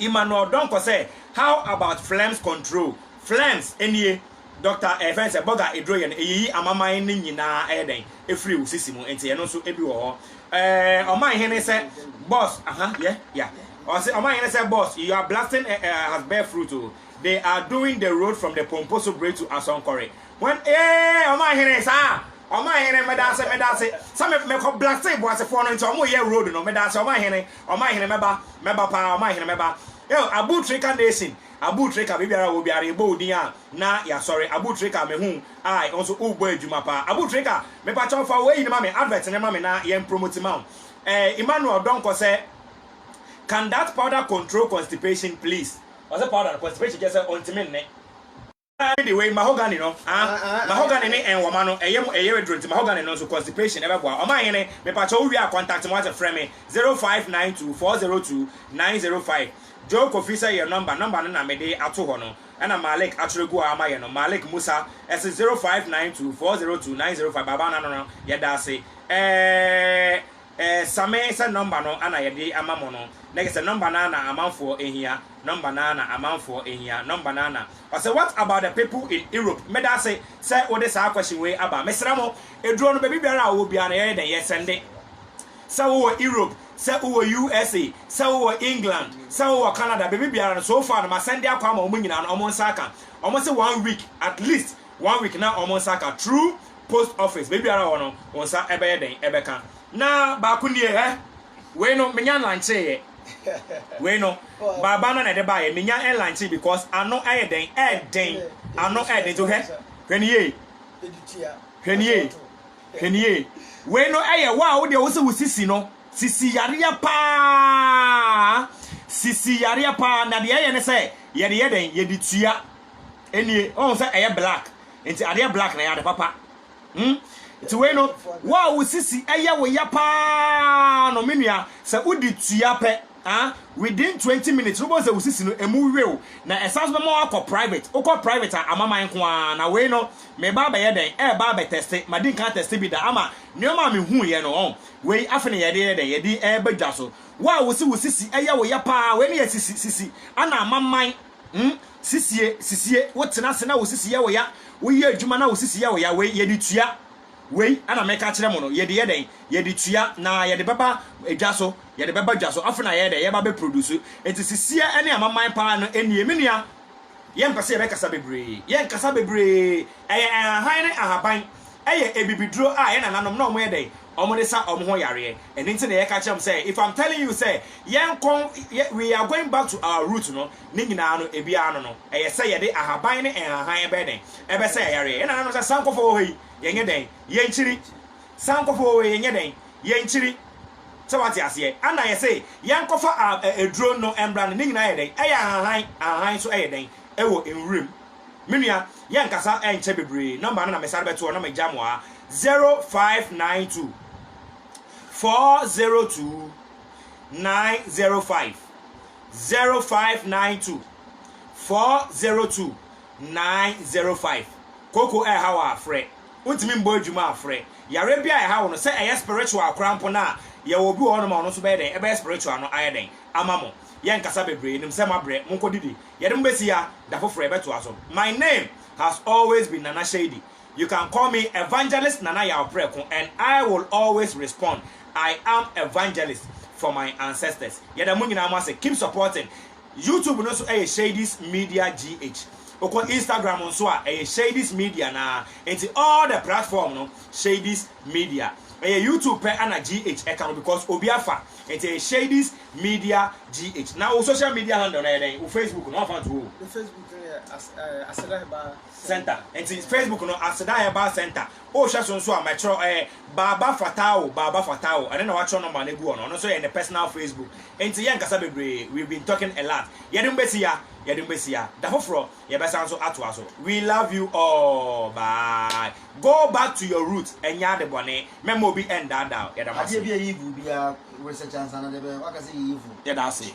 Emmanuel Donkor sɛ, How about flames control? Flames nie, Doctor ɛfɛn sɛ bɔga aduro yɛ no ɛyiyi amaman no nyinaa ɛyɛ dɛn? Ɛfiri wo sisi mu, nti ɛno nso ɛbi wɔ hɔ. Ɛɛ ɔman hene sɛ boss, aha, yɛ, ya. Ɔse ɔman hene sɛ boss, your blasting ɛ, ɛ, has bear fruit o, they are doing the road from the Pomposo Bridge to Asɔnkɔre, when, ee, ɔman hene, saa, ɔman hene, medaase, medaase, sɛ me, mekɔ blastee boasefoɔ no nti ɔmo yɛ road no, medaase ɔman hene, Ɔmanhene mɛba, mɛba paa, Ɔmanhene mɛba eo, Abutrika Nation, Abutrika biribiara wɔ biara yɛbɔ wo din a na yɛasɔre, Abutrika mehu I wo nso wobɔ adwuma paa, Abutrika mepakyɛw fa wo eyi no ma me, advert no ma me na yɛn promote ma wo eh, Emmanuel Donkor sɛ Can that powder control constipation please? Ɔse powder no constipation kyerɛ sɛ ɔntumi nne. Ara ne wei mahogany no ah mahogany ne nwoma no ɛyɛ mu ɛyere duro nti mahogany no nso constipation ɛbɛboa ɔman hene mepakyɛ wo wie a contact me wate frɛ me zero five nine two four zero two nine zero five Joe Kofi sɛ yɛ number number no na mede ato hɔ no ɛna Malik atwerɛ gu hɔ ama yɛ no Malik Musa ɛse zero five nine two four zero two nine zero five Baba Nano no yɛda ase ɛɛ. Ɛsame sɛ nɔmba no ara na yɛde ama mo no, na kyerɛ sɛ nɔmba no ara na amanfoɔ hia, nɔmba no ara na amanfoɔ hia, nɔmba no ara na. Ɔse what about the people in Europe? Meda ase sɛ wode saa question wei aba. Mesrɛ mo, aduro no baabi biara a wowɔ biara no yɛyɛ dɛn yɛsɛnde. Sɛ wowɔ Europe, sɛ wowɔ USA, sɛ wowɔ England, sɛ wowɔ Canada, baabi biara no, so far no masɛnde akɔ ama wɔn nyinaa no wɔn nsa aka. Wɔn se one week, at least one week na wɔn nsa aka. True post office, baabiara wɔ no, wo nsa bɛyɛ dɛn ɛbɛka? Na baako nie, ɛ, wei no menya nlankyeyɛ, wei no baaba no na ɛde baayɛ, menya nlankyee because ano ɛyɛ dɛn, ɛɛden, ano ɛɛden, nti hwɛ, hwɛ ne yie, hwɛ ne yie, hwɛ ne yie, wei no ɛyɛ wo a wo deɛ wo se wo sisi no, sisi yareɛ paa, sisi yareɛ paa, na deɛ ɛyɛ ne sɛ yɛde yɛ dɛn, yɛde tua, ɛnie, ɔhu sɛ ɛyɛ black, Nti adeɛ black na ɛyɛ ade papa. Hmm? Nti wei no, wo a wo sisi ɛyɛ wo ya paa no, me nua, sɛ wodi tua pɛ, ah, within 20 minutes no, wobɛhu sɛ wo sisi no, emu wew, na ɛsan so bɛma woakɔ private. Wokɔ private a, amaman nko ara. Na wei no, mereba abɛyɛ dɛn? Ɛreba abɛtɛste. Madi nka atɛste bi da, ama nneɛma a mehuiɛ no, ɔn, wei afei na yɛde yɛ dɛn? Yɛde reba dwa so. Wo a wo se wo sisi ɛyɛ wo ya paa, wei ne yɛ sisi, sisi, ɛna amaman. Hmm sisie sisie wo tena ase na wo sisi yɛ wo ya wo yɛ adwuma na wo sisi yɛ wo ya wei yɛ de tua wei ana mɛka kyerɛ mo no yɛ de yɛ dɛn yɛ de tua na yɛ de bɛba adwa so yɛ de bɛba adwa so afei na yɛ dɛ yɛ ba bɛ produce eti sisie ɛne amaman paa no enie me nua yɛn mpɛ sɛ yɛ bɛ kasa bebree yɛn nkasa bebree ɛyɛ ahahan ne ahaban ɛyɛ ebibiduro a yɛn nananom na wɔn yɛ dɛn wɔde sa wɔn ho yareɛ ɛno nti na yɛka kyerɛ wɔn sɛ if am telling you sɛ yɛnkɔ we are going back to our root no ne nyinaa no ebiara no no ɛyɛ sɛ yɛde ahaban ne nhahan ɛbɛyɛ dɛn ɛbɛsɛ yayareɛ yɛn nananom sɛ sankɔfɔ wɔ hɔ yi yɛnyɛ dɛn yɛnkyiri sankɔfɔ wɔ hɔ yi yɛnyɛ dɛn yɛnkyiri sɛ wate aseɛ ana yɛse yɛnkɔfa aduro no mbra no ne nyinaa yɛ dɛn ɛyɛ ahahan ahahan nso ɛyɛ dɛn ɛwɔ nwuram Me nua, yɛnkasa ɛnkyɛ bebree, number no na mesane bɛto hɔ na magya mo ha, 0592 402 905, 0592 402 905. Koko ɛha wɔ afrɛ, wontumi mbɔ adwuma afrɛ, yareɛ bi a ɛha wo no sɛ ɛyɛ spiritual koraa mpo no a, yɛwɔ obi wɔ hɔ nom a ɔno nso bɛyɛ dɛn, ɛbɛyɛ spiritual no ayɛ dɛn ama mo. Yɛnkasa bebree, menim sɛ moabrɛ, monkɔdidi Yɛde mo besi ha, da foforo yɛbɛtoa so. My name has always been Nana Shady, you can call me Evangelist Nana Yaw Prɛko and I will always respond, I am evangelist for my ancestors. Yɛda mo nyinaa mo ase, keep supporting. YouTube no nso ɛyɛ Shady's Media GH. Wokɔ Instagram nso a ɛyɛ Shady's Media no ara, enti all the platform no Shady's media ɛyɛ YouTube pɛ ana GH ɛka ho because obi afa ɛnti ɛyɛ Shadys media GH na wo social media handle no ɛyɛ dɛn wo Facebook no wamfa nto o. Me Facebook no yɛ Aseda Herbal Center ɛnti Facebook no Aseda Herbal Center o hwɛ so nso a mɛ kyerɛ ɛɛ Baaba Fatawo Baaba Fatawo ɛno na wakyerɛ number no agu hɔ no ɔno nso yɛ ne personal Facebook ɛnti yɛnkasa bebree we've been talking a lot yɛde mo bɛsi ya yɛde mo bɛsi ya da foforɔ yɛbɛsan so atoa so we love you all bye go back to your root ɛnyɛ ade bɔne mɛma obi ɛndaadaa wo yɛda mo ase. Adeɛ bi a evil biara research ansa na de bɛyɛ waka sɛ ɛyɛ evil. Yɛda ase.